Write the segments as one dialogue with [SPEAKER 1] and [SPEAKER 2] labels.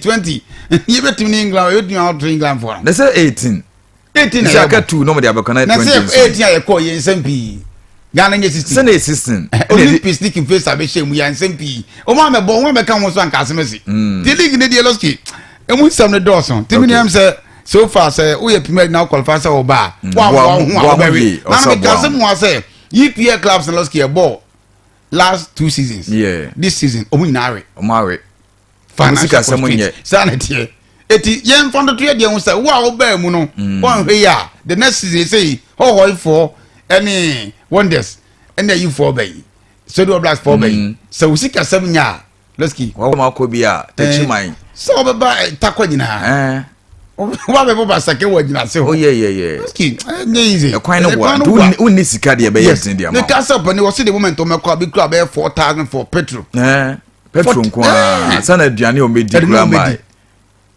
[SPEAKER 1] twenty yɛbɛtumi ne england yɛbɛtumi out england fo a. na sɛ eighteen.
[SPEAKER 2] eighteen na yɛbɔ sɛ aka
[SPEAKER 1] two na ɔmo de
[SPEAKER 2] abɛkɔ na twenty nso. na sɛ eighteen a yɛkɔ yɛ
[SPEAKER 1] nsɛm pii ghana nye sixteen. sɛ na yɛ sixteen. Eh,
[SPEAKER 2] olympics ne kinfesa
[SPEAKER 1] abɛhyɛ mu yɛ nsɛm pii ɔmo amɛbɔ ɔmo amɛka ho so anka asɛm asi. Hmm. ti league ne deɛ lɔski emu nsɛm ne dɔɔso timi nea sɛ so far sɛ woyɛ premier na ɔkɔlfa sɛ ɔba a hmm. wa wa ho a ɔbɛwe na na mi ka asɛm wa sɛ EPL clubs na lɔski ɛbɔ last two seasons. Yeah. this season
[SPEAKER 2] ɔmo nyinaa
[SPEAKER 1] awe. ɔmo awe.
[SPEAKER 2] financial
[SPEAKER 1] constraint saa na ɛteɛ eti yɛn nfa ntoto yɛ deɛ ho sɛ wo a wobaa mu no mm. wɔnhwɛ yi a the next season sɛ hɔhɔifoɔ ɛne wonders ɛne ayifoɔ bɛyi sɛdeɛ ɔblas foɔ bɛyi mm. sɛ wo sika sɛm nya a lɛski. wɔn mu akɔ bi a
[SPEAKER 2] tɛkyi man. Eh, sɛ ɔbɛba eh,
[SPEAKER 1] takɔ nyinaa eh. wa bɛ bɔ basake wɔ gyina se hɔ. o yɛ yɛ yɛ lɛski
[SPEAKER 2] ɛnyɛ
[SPEAKER 1] yize. ɛkwan ne wa nti
[SPEAKER 2] wo ni sika deɛ bɛyɛ ɛdini deɛ ma. ne ka sɛ ɔpɛ ne wɔsi de moment
[SPEAKER 1] ɔmɛ kɔ a bi kura bɛyɛ four thousand for petrol. petro
[SPEAKER 2] nko ara eh. sana aduane a wɔbɛdi kura ma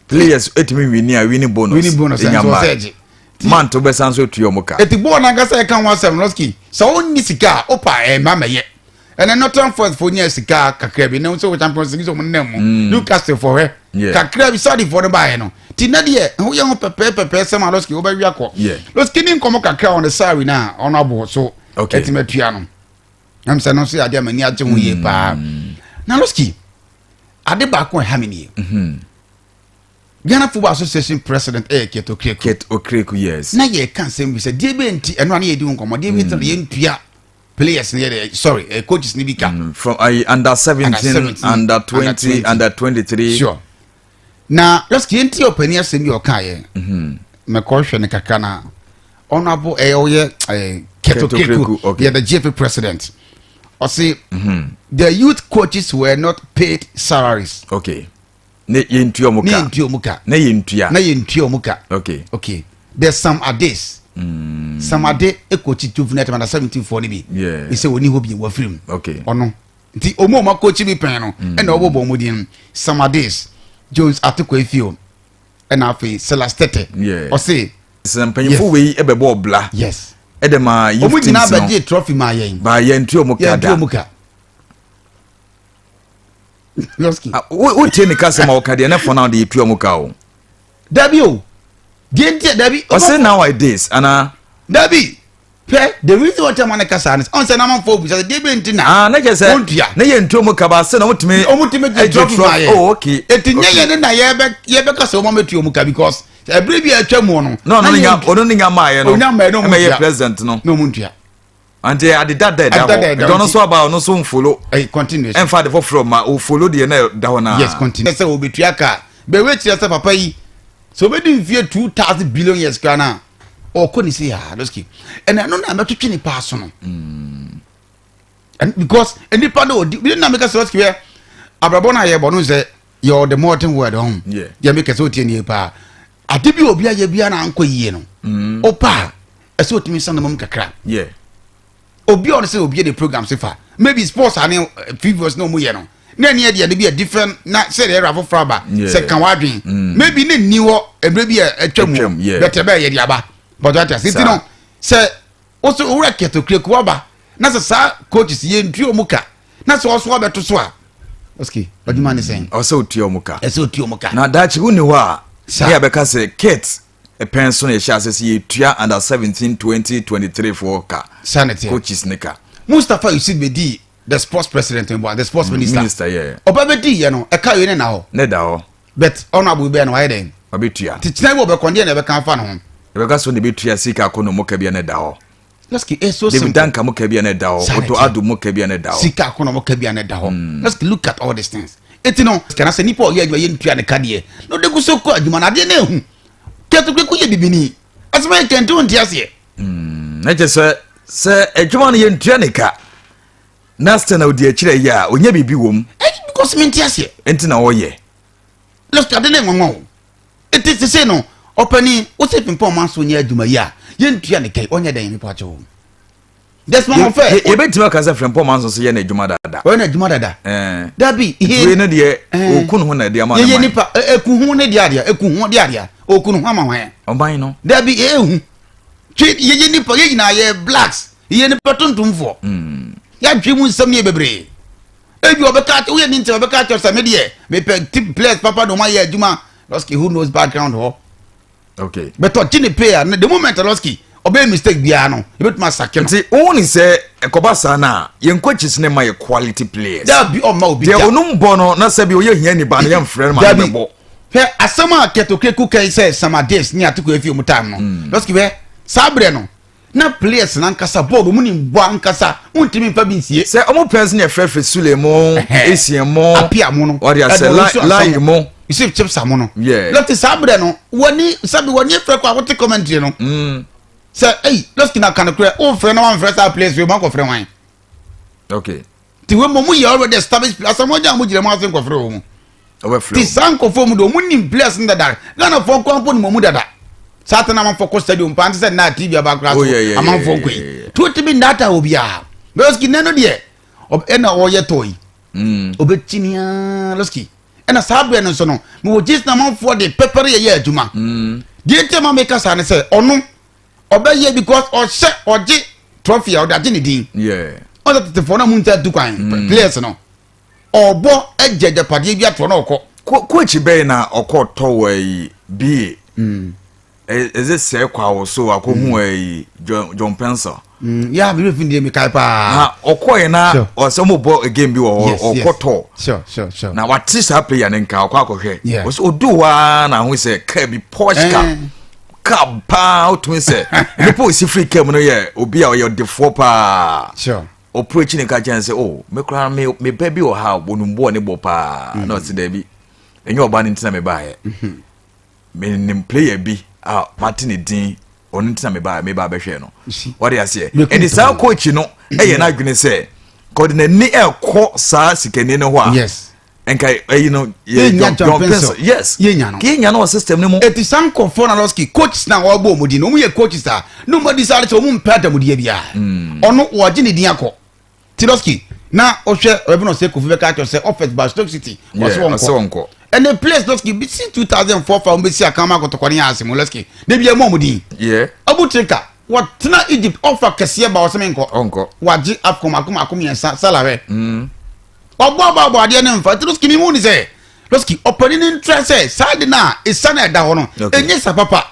[SPEAKER 2] players etumi wini a wini bonus wini bonus ɛnyɛ ma
[SPEAKER 1] mant wobɛsan
[SPEAKER 2] so tua ɔmo ka. eti bɔɔl nankasa ɛka
[SPEAKER 1] ho asɛm lɔski sɛ ɔnni sika a ɔpa ɛma mɛyɛ ɛnɛ northern forest fo nya sika kakra bi ɛnɛ sɛ wɔ champions league sɛ ɔmo nna mu mm. newcastle fo hɛ kakra bi saudi fo no baayɛ no ti na deɛ ho yɛ ho pɛpɛɛpɛpɛ sɛm a lɔski wobɛwi akɔ lɔski ne nkɔmɔ kakra ɔno sari na ɔno abo so ɛtumi atua no. na mesɛ no nso yɛ adeɛ a m'ani agye ho yie mm. paa na loski ade baako a ɛha me nie mhm. ghana football association president ɛyɛ ket okreku ket okreku
[SPEAKER 2] yes na yɛka nsɛm bi sɛ
[SPEAKER 1] deɛ bɛ nti ɛno a ne yɛdi ho nkɔmmɔ deɛ bɛ nti na mm. yɛntua players ni yɛ sorry uh, coaches ni bi ka. Mm, from uh, under
[SPEAKER 2] seventeen under twenty under twenty three. sure
[SPEAKER 1] na just yɛn ti ɔpanyin asɛm bi ɔka yɛ mhm. mɛkɔ hwɛ ne kakra na ɔno abo ɛyɛ ɔyɛ ɛɛ ketokeku yɛ the gfa president ɔsi mhm. the youth coaches were not paid salaries. okay
[SPEAKER 2] ne yɛ ntua ɔmo ka ne yɛ ntua ɔmo ka ne yɛ ntua ne yɛ ntua ɔmo ka okay okay there's some ades. Mm. some ade ekɔ kyi juvenile tɛmɛ na seventeen foɔ ne bi. yeah ɛsɛ wɔn ni hɔ bi
[SPEAKER 1] wɔ firim. okay ɔno.
[SPEAKER 2] nti
[SPEAKER 1] ɔmu ɔma kɔkyi bi pɛn no ɛna mm. ɔbɔbɔ ɔmu din samadis jones atoko efio ɛna afei silas tete ɔse
[SPEAKER 2] sɛ
[SPEAKER 1] mpanyinfo wei
[SPEAKER 2] ɛbɛbɔ ɔbla yes ɛdɛ ma
[SPEAKER 1] youth teams no ɔmu
[SPEAKER 2] nyinaa bɛgye trɔfi
[SPEAKER 1] ma yɛn ba yɛn tu ɔmu ka
[SPEAKER 2] da
[SPEAKER 1] wotie ne
[SPEAKER 2] kasɛm a wɔka deɛ ne fɔ no de yɛtua mu ka o dabi o
[SPEAKER 1] deɛ nti dabi ɔse now i
[SPEAKER 2] this anaa dabi
[SPEAKER 1] hwɛ the reason why ɔtɛn ma ne kasa ne sɛ ɔn sɛ n'amanfo obu sɛ deɛ bɛ nti na aa ne kyɛ sɛ ɔntua ne
[SPEAKER 2] yɛ ntuo mu kaba ase na ɔmutumi ɔmutumi gye trɔ bi ma
[SPEAKER 1] yɛ oh okay eti nyɛ yɛ
[SPEAKER 2] ne na
[SPEAKER 1] yɛbɛ yɛbɛ kasa ɔmo amɛtua ɔmo ka because ɛbiri bi a ɛtwa mu no na ɔno ne nya ɔno ne nya
[SPEAKER 2] maa yɛ no ɔnya maa yɛ na ɔmo ntua president
[SPEAKER 1] no na
[SPEAKER 2] ɔmo ntua
[SPEAKER 1] nti adeda
[SPEAKER 2] da ɛda hɔ ɛdɔ no so aba ɔno so nfolo ɛnfa de
[SPEAKER 1] foforɔ ma
[SPEAKER 2] ofolo deɛ na ɛda hɔ naa yes continue sɛ
[SPEAKER 1] obetua kaa bɛwɛ kyerɛ sɛ papa yi sɛ obedi nfie two thousand billion years kura naa. ɔkɔ ne se yaa ah, lɔsiki ɛna ɛno na mɛtwitwi ne paa so no mm. because nipa no ɔdi bi na meka sɛ lɔsiki yɛ abrabɔ no a yɛbɔ no sɛ yɛ ɔde modern word ɔho yɛ meka sɛ ɔtie
[SPEAKER 2] nie
[SPEAKER 1] paa ade bi obi ayɛ bia na ankɔ yie no ɔpaa mm. ɛsɛ ɔtumi nsa no mom kakra
[SPEAKER 2] obi
[SPEAKER 1] ɔno sɛ obi de program se fa maybe sports ane eh, previous na ɔmo yɛ no na ɛne ɛdeɛ de bi a different na sɛ deɛ ɛra foforɔ aba sɛ ka wadwen mm. maybe ne nni hɔ ɛberɛ bi a atwa mu bɛtɛ bɛɛ yɛde aba but wata sɛ nti no sɛ woso wowura kɛtɔkirek waba na sɛ saa coaches yɛ ntua ɔmo ka na sɛ ɔso abɛto so a ɔsike ɔdwuma ne sɛn ɔsɛ otua ɔmo ka ɛsɛ
[SPEAKER 2] otua ɔmo ka na daakye
[SPEAKER 1] wo ne hɔ a
[SPEAKER 2] ne yɛbɛka sɛ kate pɛn so na yɛhyɛ ase sɛ yɛtua under 17 2023 foɔ ka coaches ne
[SPEAKER 1] ka
[SPEAKER 2] mustapha yusuf
[SPEAKER 1] bɛdii the sports president mboa the sports mm, minister minister yɛ ɔba bɛdii yɛ
[SPEAKER 2] no
[SPEAKER 1] ɛka wei ne na hɔ ne da hɔ but ɔno abo bɛyɛ no wayɛ dɛn ɔbɛtua nti kyena bi
[SPEAKER 2] ɔbɛkɔ ndeɛ na
[SPEAKER 1] ɛbɛka afa no ho ɛbɛka so na ɛbɛtua
[SPEAKER 2] sika kɔ no mu ka bia ne da hɔ Lɛski e so simple.
[SPEAKER 1] David Danka mo kabia na ɛda hɔ.
[SPEAKER 2] Oto Ado mo kabia na ɛda hɔ. Sika akono mo kabia na ɛda
[SPEAKER 1] hɔ. Hmm. Lɛski look at all these things. Eti no sikana sɛ nipa ɔyɛ adwuma yɛ ntua ne kadeɛ na ɔde kuso kɔ adwuma na adeɛ na ehu kɛtɛkɛ ko yɛ bibini asɛmɛ yɛ kɛntɛn nti aseɛ. Hmm. Ɛkyɛ
[SPEAKER 2] sɛ sɛ adwuma no yɛ ntua ne ka na sɛ na odi akyerɛ yɛ a onye biribi wɔ mu. Ɛyi because mi nti
[SPEAKER 1] aseɛ. Nti na ɔyɛ.
[SPEAKER 2] left ade
[SPEAKER 1] ne nwanwa o eti sese no ɔpɛni wosi pimpɔn ɔman so nyɛ adwuma yi a yɛn ntua ne kɛyi ɔnyɛ dɛn nipa kyɛw desmond mo fɛ. yɛbɛtumi aka sɛ frɛmpɔ
[SPEAKER 2] ɔman so so yɛ no adwuma dada ɔyɛ no adwuma dada eh.
[SPEAKER 1] dabi wei no deɛ
[SPEAKER 2] eh. ɔku ne ho na ɛde ama yɛyɛ nipa ɛku eh, ho
[SPEAKER 1] ne deɛ adeɛ ɛku ho deɛ adeɛ ɔku ne ho ama hwan ɔman no dabi
[SPEAKER 2] ɛhu
[SPEAKER 1] twe yɛyɛ nipa yɛ nyinaa yɛ blacks yɛyɛ nipa tuntumfoɔ hmm. yɛadwe mu nsɛm yɛ bebree ebi ɔbɛka akyɛ woyɛ ne ntɛm ɔbɛka akyɛ sɛ me deɛ mepɛ tip players papa na ɔma yɛ adwuma lɔski who knows background hɔ okay
[SPEAKER 2] but ɔgye ne pay
[SPEAKER 1] a na the moment lɔski ɔbɛyɛ mistake biara no ebɛtumi asake no nti wohu ne sɛ
[SPEAKER 2] ɛkɔba saa no a yɛn coaches ne ma yɛ quality players dabi ɔma obi deɛ
[SPEAKER 1] ɔnom bɔ no na
[SPEAKER 2] sɛ bi ɔyɛ hia niba no yɛmfrɛ no ma no bɛbɔ hwɛ asɛm a
[SPEAKER 1] kɛtokreku kai sɛ samadis ne atoko afi ɔmu time no hmm. lɔski hwɛ saa berɛ no na players no ankasa bɔɔl wɔn nim bɔ ankasa wɔn ntumi nfa bi nsie. sɛ wɔn players no yɛ fɛfɛ
[SPEAKER 2] sule mo esie mo apia mo no wɔde
[SPEAKER 1] asɛ lai
[SPEAKER 2] lai mo yusuf chipsa mo no
[SPEAKER 1] lɔti saa abirɛ
[SPEAKER 2] no
[SPEAKER 1] wɔni sabi wɔni efirɛ kɔ a wɔte commentary no mm. sɛ ɛyi lɔti na kanokorɛ wɔn fɛ na wɔn fɛ saa players yɛ wɔn akɔ fɛ wɔn. okay.
[SPEAKER 2] ti wei mu ɔmo
[SPEAKER 1] yɛ already established players ɔmo gya ɔmo gyina mu ase nkɔfrɛ wɔn mu ti saa nkɔfo mu de ɔmo nim players no dada ghana fɔ nkɔ mpo nim ɔmo dada saa tena amanfo kɔ stadium paa sɛ nna tv aba akora so amanfo nkɔ yi tu ti bi ndata obiara lɔski nɛ no deɛ ɛna ɔyɛ tɔ yi ɔbɛkyini aa lɔski ɛna saa berɛ no nso no mewɔ gyesi na amanfoɔ de pɛpɛre yɛyɛ adwuma deɛ nti ma meka saa ne sɛ ɔno ɔbɛyɛ because ɔhyɛ ɔgye trophy a ɔde agye ne din ɔsɛ
[SPEAKER 2] tetefoɔ no mu
[SPEAKER 1] nsa tu kwan mm. players no ɔbɔ agya agyapadeɛ bi atoɔ na ɔkɔ koakyi bɛyɛ na
[SPEAKER 2] ɔkɔ tɔwɔ yi bie mm. ɛdze sɛ kɔ awo so akɔhu mm. yi john pencil yà mi fi
[SPEAKER 1] ndiẹ mi ka paa na ɔkɔ yẹn na
[SPEAKER 2] ɔsɛ ɔmo bɔ game bi wɔ hɔ ɔkɔ tɔ na
[SPEAKER 1] wate saa player
[SPEAKER 2] ne nka ɔkɔ akɔhwɛ ɔsɛ odu waa na ahosuo sɛ kaa bi posh car. Eh. car paa wotumi sɛ nipa osi firi car mu no yɛ obi a ɔyɛ ɔdefoɔ paa ɔporo
[SPEAKER 1] akyi ne ka kyɛn
[SPEAKER 2] sɛ o me koraa me me bɛ bi wɔ ha wɔnum boɔ ne bɔ paa na ɔsi dɛbi ɛnyɛ ɔbaa ne ntina me baayɛ me nim player bi a mate ne din ɔno ntina me baa me baa bɛhwɛ no ɔde aseɛ ɛdi saa coach no ɛyɛ n'adwene sɛ kɔde n'ani ɛkɔ saa sikani no hɔ a. nka
[SPEAKER 1] ɛyi no
[SPEAKER 2] yɛ yɛnya john pencil yes yɛnya no yɛnya no wɔ system no mu ɛti saa nkɔfoɔ na lɔski
[SPEAKER 1] coaches na wɔbɔ wɔn din no wɔn yɛ coaches a ne wɔn adi saa de sɛ wɔn mpɛ adamudeɛ biara hmm. ɔno wɔgye ne din akɔ ti lɔski na ɔhwɛ ɔbɛbi na ɔsɛ kofi bɛka akyɛ sɛ ɔfɛs ba stoke city wɔsɛ wɔn nkɔ ɛnɛ players lɔski bi si two thousand four fa wɔn bɛ si akan ma kɔtɔkɔ ne yɛ ase mu lɔski ne bi yɛ mu wɔn din ɔbu tirika wɔtena egypt ɔfa kɛseɛ ba ɔsɛ mi nkɔ wɔagye afcon mako mako mmiɛnsa salawɛ. Hmm. Ɔbɔ aba ɔbɔ adeɛ no mfa nti Losky mi hu ni sɛ Losky ɔpɛni ni ntra sɛ saa de na esa na ɛda hɔ no enye sa papa.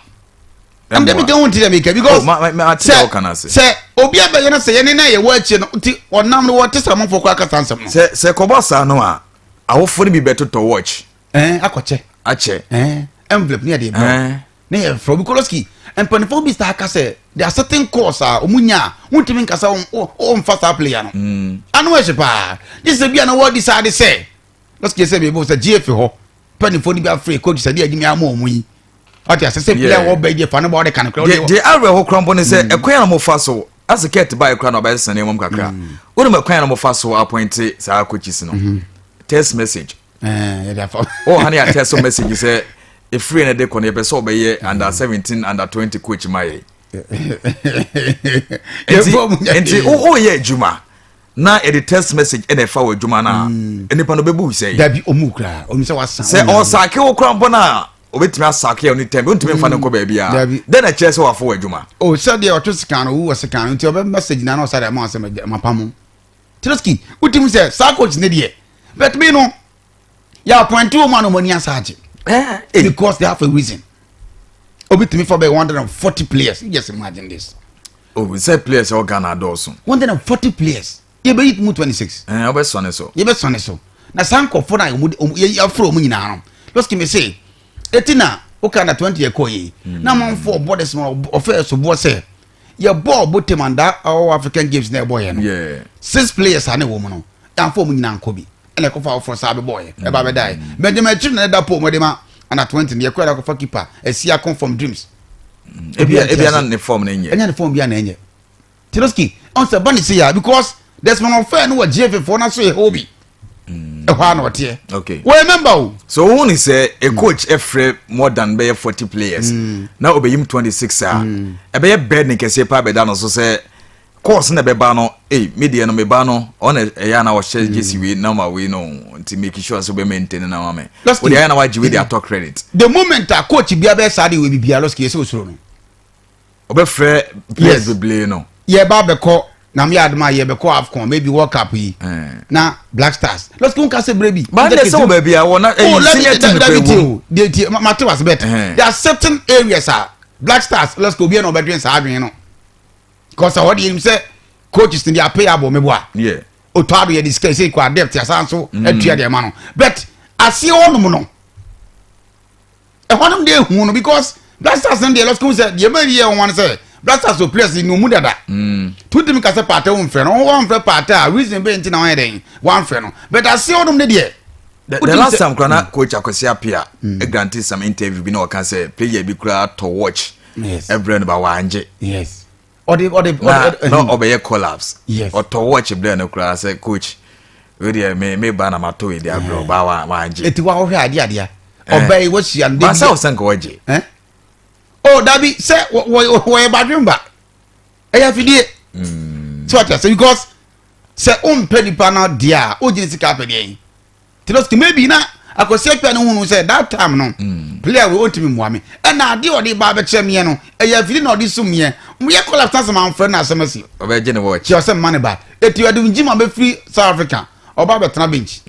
[SPEAKER 1] Ɛm de mi ka hu nti dɛ mi ka because sɛ sɛ obi abɛyɛ no sɛ yɛne na yɛwɔ akyire no nti ɔnam no wɔte sɛ ɔmanfoɔ kɔ akasa nsɛm no. Sɛ sɛ kɔbɔ saa no a
[SPEAKER 2] awofo no bi bɛtotɔ watch. Ɛn akɔkyɛ.
[SPEAKER 1] Akyɛ. Ɛn
[SPEAKER 2] envelope ne
[SPEAKER 1] yɛde brɛ. Ne yɛ frɛ obi koloski mpanyinfoɔ bi saa ka sɛ de asetin kɔɔs a wɔn nya a wɔntumi nkasa wɔn fa saa player no mm. ano ɛhyɛ paa ne sɛ bi a na wɔadi saa de sɛ koloski sɛ bɛbɔ sɛ gye efi hɔ mpanyinfoɔ no bi afre coach sɛ de agyimi ama wɔn yi ɔte ase sɛ player wɔ bɛyi deɛ fa ne bɔ ɔde ka ne kura ɔde wɔ. deɛ awurɛ hɔ kura mbɔ ne
[SPEAKER 2] sɛ ɛkwan yɛn na mo fa so ase kɛt baa ekura na ɔbɛyɛ sani mu kakra wɔn mu ɛkwan yɛn na mo fa so apɔnte saa coaches no mm-hmm. text message. oh honey a text message sɛ ɛfiri no de kɔ no yɛpɛ sɛ ɔbɛyɛ under 17 under 20 coach ma yɛ nti woyɛ adwuma na ɛde text message ɛna ɛfa wɔ adwuma no a mm. nnipa no bɛbu sɛ dabi ɔmu koraa ɔmu sɛ wasa sɛ ɔsake wo kora mpo no a obetumi asake a ɔne tɛm ɔntumi nfa ne nkɔ baabi a dɛn na kyerɛ sɛ wafo wɔ adwuma o sɛdeɛ ɔto sika no wowɔ sika no nti ɔbɛ message na na ɔsɛ dɛ ma ɔsɛ mapamo Trotsky wotim sɛ saa coach ne deɛ but me no yɛ appointe wɔ mu a na ɔmo ani asa agye eh, eh. because they have a reason obi tumi fa bɛyɛ one hundred and forty players you just imagine this. o oh, sɛ players ɛwɔ ghana adɔɔso. one hundred and forty players
[SPEAKER 1] yɛ bɛ yi mu twenty six. ɛɛ ɔbɛ sɔ ne so. yɛ
[SPEAKER 2] bɛ sɔ ne so
[SPEAKER 1] na saa nkɔfo na ɔmo ɔmo yɛ afro ɔmo nyinaa no lɔsiki mi se eti na o ka na twenty yɛ kɔ yɛ na amanfo ɔbɔ de sɛ ɔfɛ ɛso boɔ sɛ yɛbɔɔ botam andaa ɔwɔ african games na ɛbɔɔyɛ no six players a na ɛwɔ mu no yɛamfa wɔn nyinaa nkɔ bi ɛna ɛkɔfa afoforɔ saa bɛbɔɔyɛ ɛba bɛdaeɛ mm. benjamin akyiri na ɛda pole mu ɛde ma ana twenty no yɛkɔɛ akɔfa keeper ɛsi akɔ from dreams mm. ebi
[SPEAKER 2] ebi ana ne form na ɛnyɛ ɛnyɛ ne form bi ana ɛnyɛ
[SPEAKER 1] tiroski ɔn sɛ ba ne se ya because desmond ɔfɛ no wɔ gfa foɔ na so yɛ hɔ bi Mm. ɛhɔ a na ɔteɛ okay. wɔyɛ member o
[SPEAKER 2] so
[SPEAKER 1] wohu ne sɛ
[SPEAKER 2] a mm. coach ɛfrɛ more than bɛyɛ 40 players mm. na ɔbɛyim 26 a mm. ɛbɛyɛ bɛd ne kɛseɛ paa bɛda no so sɛ course na bɛba no ei me deɛ no meba no ɔna ɛyɛ a na ɔhyɛ mm. gyesi wei na ma wei no nti make sure sɛ wobɛma ntɛne na ma me wode ayɛ na wagye wei de atɔ credit the moment a coach
[SPEAKER 1] bia bɛyɛ saa de wɔ bibia lɔske yɛ sɛ ɔsuro no
[SPEAKER 2] ɔbɛfrɛ players bebree
[SPEAKER 1] no
[SPEAKER 2] yɛba
[SPEAKER 1] bɛkɔ
[SPEAKER 2] na
[SPEAKER 1] meyɛ adom a yɛbɛkɔ afcon maybe world cup yi eh. na black stars lɔsike wo nka sɛ berɛ bi bande sɛ wɔ baabi a
[SPEAKER 2] wɔna ɛyi eh, senior team pɛ wɔ deɛ tie mate wase
[SPEAKER 1] bɛt eh. there are certain areas a black stars lɔsike obi na ɔbɛdwen saa adwen no because ɔde yɛnim sɛ coaches no de apɛ yɛ abɔ mebo a ɔtɔ ado
[SPEAKER 2] yɛde sika
[SPEAKER 1] sɛ kɔ adept asan so mm. atua deɛ ma no but aseɛ wɔnom no ɛhɔ nom deɛ ehu no because black stars no deɛ lɔsike ho sɛ deɛ ɛbɛn yɛ wɔn sɛ black stars o players ni omu dada mm. tutumi ka sɛ paata wɔn fɛ no wɔn wɔn fɛ paata a reason bɛyɛ nti na wɔn yɛ dɛn wɔn fɛ no but ase hɔ nom ne deɛ. the, the last time
[SPEAKER 2] kura na mm. coach akwasi apia mm. e grante some interview bi na ɔka sɛ player bi kura tɔ watch ɛbrɛ no ba wɔangye. yes.
[SPEAKER 1] ɔde ɔde
[SPEAKER 2] ɔde na ɔbɛyɛ collapse yes ɔtɔ watch brɛ no koraa sɛ coach o deɛ me me ba na ma to edi abrɛ ɔba wa wa agye eti wa ɔhwɛ adeɛ adeɛ
[SPEAKER 1] ɔbɛ yi wahyia no de bi baasa ɔsɛ nka ɔgye ɛn
[SPEAKER 2] o
[SPEAKER 1] dabi sɛ wɔ wɔ wɔyɛ badwemba ɛyɛ afidie sɛ ɔte ase because sɛ o mpɛ nipa na deɛ a o gyina sika apɛ deɛ yi. nti no maybe na akwasi akwa no hunu sɛ that time no mm. player wei ɔntumi mmoa me ɛna ade ɔde ba bɛkyerɛ meɛ no ɛyɛ afiri na ɔde som meɛ moyɛ collapse asɛm amfrɛ no asɛm asi ɔbɛgye ne watch kyɛ sɛ
[SPEAKER 2] mma ne ba ɛti
[SPEAKER 1] ɔde ngyi ma bɛfiri south africa ɔba bɛtena bench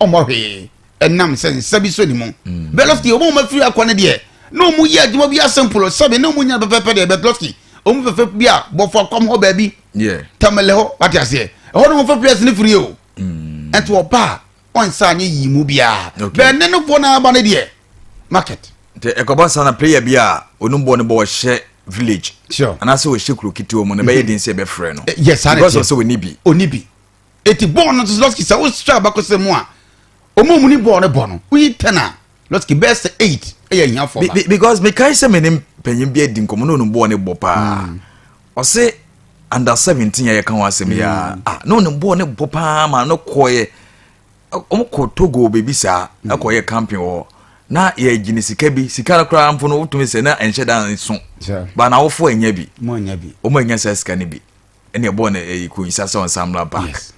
[SPEAKER 1] ɔmmɔ hwee ɛnam sɛ nsa bi so ne mu mm. bɛlɔski ɔma ɔma firi akɔ no deɛ na ɔmu yɛ adwuma bi asɛmpolo sɛbe na ɔmu nyina pɛpɛpɛ deɛ bɛlɔski ɔmu fɛfɛ bi a bɔfo akɔm hɔ baabi tamalɛ hɔ
[SPEAKER 2] wate
[SPEAKER 1] aseɛ ɛhɔ no mu fɛ players ne firi o ɛnti ɔba a ɔnsa anyɛ yii mu biara bɛn ne no bɔ n'aba no deɛ market nti ɛkɔba saa
[SPEAKER 2] na player bi a ɔnom bɔ no bɔ ɔhyɛ village anaasɛ ɔhyɛ
[SPEAKER 1] kuro ketewa
[SPEAKER 2] mu no bɛyɛ den sɛ ɛbɛfrɛ no because of sɛ ɔni
[SPEAKER 1] bi
[SPEAKER 2] ɔni bi
[SPEAKER 1] ɛti bɔɔl no nso lɔski sɛ wohwɛ abakɔsɛ mu a ɔma ɔmu ne bɔɔl no bɔ no woyi tɛn a lɔtiki bɛyɛ sɛ eight ɛyɛ ahiafoɔ ba. because mekae sɛ me
[SPEAKER 2] ne mpanyin bi adi nkɔmɔ na ɔnum boɔ ne bɔ paa mm. ɔse under seventeen yɛ ka ho asɛm yɛ mm. ah na ɔnum boɔ ne bɔ paa ma no kɔɔyɛ wɔn kɔ togo baabi saa mm. ɛkɔyɛ camping wɔ na yɛgye ne sika bi sika no koraa mpo no wotumi sɛ na ɛnhyɛ da nso ba na awofo anya bi wɔn anya
[SPEAKER 1] saa sika no bi
[SPEAKER 2] ɛna ɛbɔɔ no ɛyi kɔnyisa sɛ ɔnsa mmra park. Yes.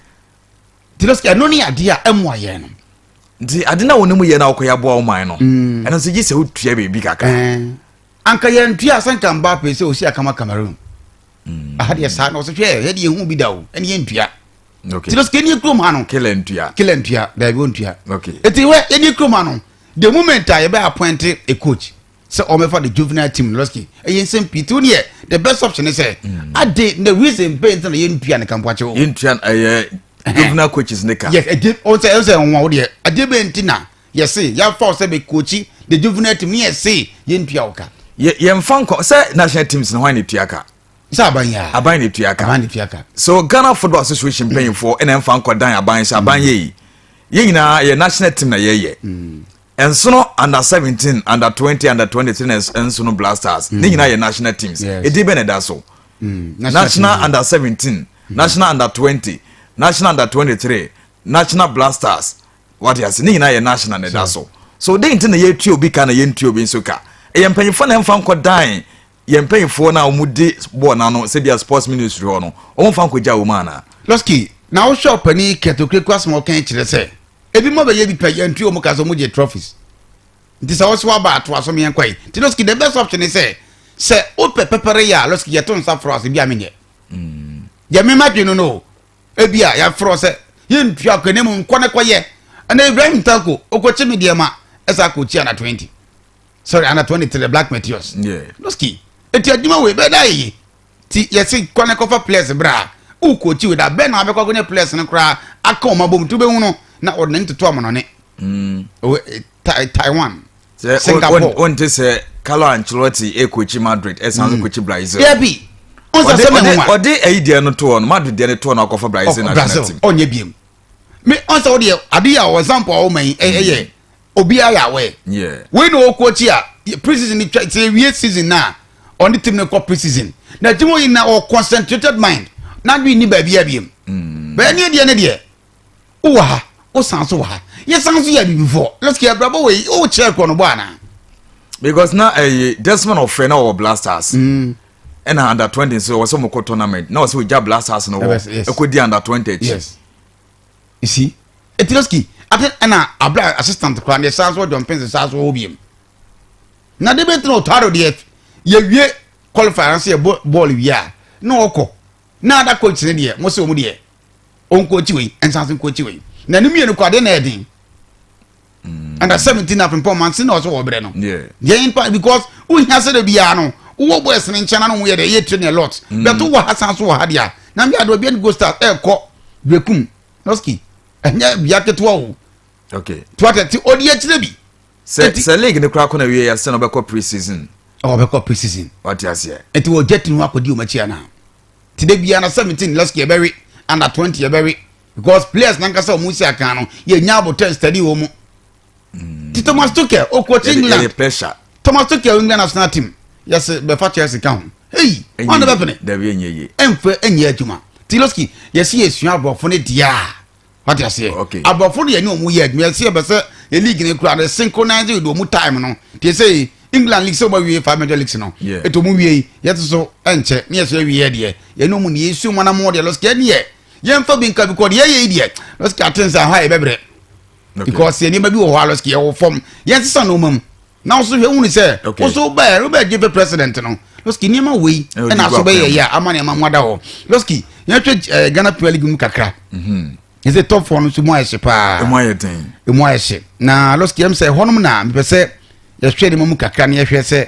[SPEAKER 2] nti no
[SPEAKER 1] ɛno ne adeɛ a ɛmoa yɛn no nti ade no a
[SPEAKER 2] wɔne mu yɛ no a wokɔyɛ aboa wo man no mm. ɛno nso gye sɛ wotua biribi kakra anka
[SPEAKER 1] yɛntua sɛ nka mba pɛ sɛ ɔsi akama cameroon mm. aha deɛ saa na ɔsɛ hwɛ yɛde yɛhu bi da o ɛne yɛntua nti no sika
[SPEAKER 2] nie kurom ha no
[SPEAKER 1] kila ntua kila ntua
[SPEAKER 2] daabi
[SPEAKER 1] ɔntua ɛti hwɛ
[SPEAKER 2] ɛnie kurom
[SPEAKER 1] ha no the moment a yɛbɛ appointe a coach sɛ ɔmɛfa the juvenile team no lɔski ɛyɛ nsɛm pii tiw neɛ the best option ne sɛ mm. ade na reason bɛn nti na yɛntua ne kampoakye o yɛntua ɛyɛ
[SPEAKER 2] juvenile coaches ne ka yes ɛde ɔsɛ ɛsɛ
[SPEAKER 1] nwa wo deɛ ɛde bɛn nti na yɛse yɛafa wo sɛ bɛkoakyi the juvenile team ne yɛse yɛntua wo ka yɛmfa nkɔ
[SPEAKER 2] sɛ national teams no hwan ne tua ka sɛ aban yɛ
[SPEAKER 1] aban ne tua ka aban ne
[SPEAKER 2] tua ka so ghana football association mpanyinfoɔ ɛna ɛmfa nkɔ dan aban sɛ aban yɛ yi yɛn nyinaa yɛ national team na yɛyɛ mm. Nsono under seventeen, under twenty, under twenty three na nsono blasters ne nyinaa yɛ national teams edin bɛ na ɛda so national under seventeen national under twenty national under twenty three national blasters wate ase ne nyinaa yɛ national na ɛda so so den ti na yɛtua obi ka na yɛntua obi nso ka ɛyɛ mpanyinfoɔ na ɛnfa nkɔ dan yɛn mpanyinfoɔ no a wɔn de bɔɔl n'ano sɛbi sports ministry hɔ no wɔn fa nkogya wɔn ana. lɔski na wohwɛ
[SPEAKER 1] ɔpanin yi kɛtɛ okirikiri asɛm a ɔkɛn kyerɛ sɛ ebi mo abɛyɛ bi pɛ yɛn ntua wɔn ka sɛ wɔn gye trophies nti sɛ wɔsɛ waba ato aso mmiɛn kɔ yi nti lɔski the best option ne sɛ sɛ wopɛ pɛpɛrɛ yɛ a lɔski yɛto nsa forɔ ase bi a menyɛ deɛ mema adwene no no ebi a yɛaforɔ sɛ yɛntua kɔ ne mu nkɔ ne kɔyɛ ɛna ibrahim tanko okɔkye me deɛ ma ɛsɛ akɔkyi ana 20 sorry ana twenty three black meteors noski eti adwuma wei bɛɛ da yeye ti yɛsi kɔ ne kɔfa players bra o kookyi wei da bɛɛ na abɛkɔ akɔnya players no koraa aka wɔn abom tu bɛhu no na ɔde n'ani toto wɔn nɔne mm. eh, taiwan singapore wɔn ti sɛ
[SPEAKER 2] kalo ancelotti ekookyi madrid ɛsan so mm. kookyi brazil. dabi
[SPEAKER 1] ɔde ɛyi deɛ no
[SPEAKER 2] toɔ no madrid deɛ no toɔ no akɔfa brazil national team ɔnyɛ biem
[SPEAKER 1] me ɔnsɛ wo deɛ ade a ɔwɔ example a ɔwɔ ma yi ɛyɛ Obiara yɛ aware. Yeah. Wei na ɔkɔ akyi a pre-season ni twa sɛ ewie season na ɔne team no kɔ pre-season. Na team yi na ɔ concentrated mind. Na dwi ni baabi abiem. Mm. Bɛyɛ ne deɛ ne deɛ. Wo wɔ ha, wo san so wɔ ha. Yɛ san so yɛ abibifoɔ. Let's get brabo wei, wo kyerɛ korɔ no bɔ ana. Because na
[SPEAKER 2] eh Desmond ɔfrɛ na ɔwɔ Blasters. Mm. Ɛna under 20 nso ɔwɔ sɛ ɔmo kɔ tournament. Na ɔsɛ ɔgya Blasters no wɔ ɛkɔ di under 20 akyi. Yes.
[SPEAKER 1] you see eti lɔski ati ɛna abira assistant kura ne saa so john pence saa so wɔ biem na de bɛ tena otado deɛ yɛwie qualifier ase yɛ bɔɔl wie a na ɔkɔ na ada coach ne deɛ mo se wɔn deɛ ɔnkɔ akyi wei nsanse nkɔ akyi wei na ne mmienu kɔ adeɛ na ɛden. mm. under seventeen na pimpɔn man si na ɔsɛ ɔbrɛ no yɛn mpa because wohia sɛ de biara no wowɔ boys ne nkyɛn na no yɛ dɛ yɛ train a lot mm. bɛto wɔ ha san so wɔ ha deɛ a na bi adeɛ obi ani go start ɛɛkɔ bekum noski ɛnyɛ bia ketewa o okay to
[SPEAKER 2] atɛte ɔdi
[SPEAKER 1] akyire bi sɛ sɛ league
[SPEAKER 2] ne kora kɔ na wie yɛ sɛ na ɔbɛkɔ pre season ɔbɛkɔ pre season
[SPEAKER 1] ɔte aseɛ
[SPEAKER 2] nti wɔgya tini ho akɔdi
[SPEAKER 1] ɔmakyi anaa ti de biara na seventeen lɛski ɛbɛwe under twenty ɛbɛwe because players nankasa wɔn nsi akan no yɛ nya abotɛ study wɔn mu mm. ti thomas tuchel okɔkye england thomas
[SPEAKER 2] tuchel england
[SPEAKER 1] national team yɛsɛ bɛfa chelsea ka ho eyi wɔn na bɛpene ɛnfɛ
[SPEAKER 2] ɛnyɛ adwuma
[SPEAKER 1] tiloski yɛsi yɛ sua aborɔfo ne deɛ a wate aseɛ aborɔfo no yɛ ne wɔn
[SPEAKER 2] yɛ
[SPEAKER 1] adwuma yɛsi yɛ bɛsɛ yɛ league ne kura de synchronize with wɔn time no te sɛ england league sɛ wɔn awie five major leagues no eto mu wie yɛte so ɛnkyɛ ne yɛ so awie yɛ deɛ yɛ ne wɔn ne yɛ su wɔn anam wɔn deɛ lɔsi yɛ ne yɛ yɛmfa bi nka because yɛyɛ yi deɛ lɔsiki aten sɛ aha yɛbɛbrɛ because yɛ nneɛma bi wɔ hɔ a lɔsiki yɛwɔ fam yɛnsesa nneɛma mu na woso hwɛ wuni sɛ woso bɛɛ robert gye fɛ president no lɔsiki nneɛma wei ɛna aso bɛyɛ yɛ a ama nneɛma ho ada hɔ lɔsiki yɛhwɛ ɛɛ ghana premier league mu kakra mhm. yɛsɛ top four no so mu ayɛ hye paa emu ayɛ den emu ayɛ hye na lɔsiki yɛm sɛ hɔnom na mepɛ sɛ yɛhwɛ nneɛma mu kakra na yɛhwɛ sɛ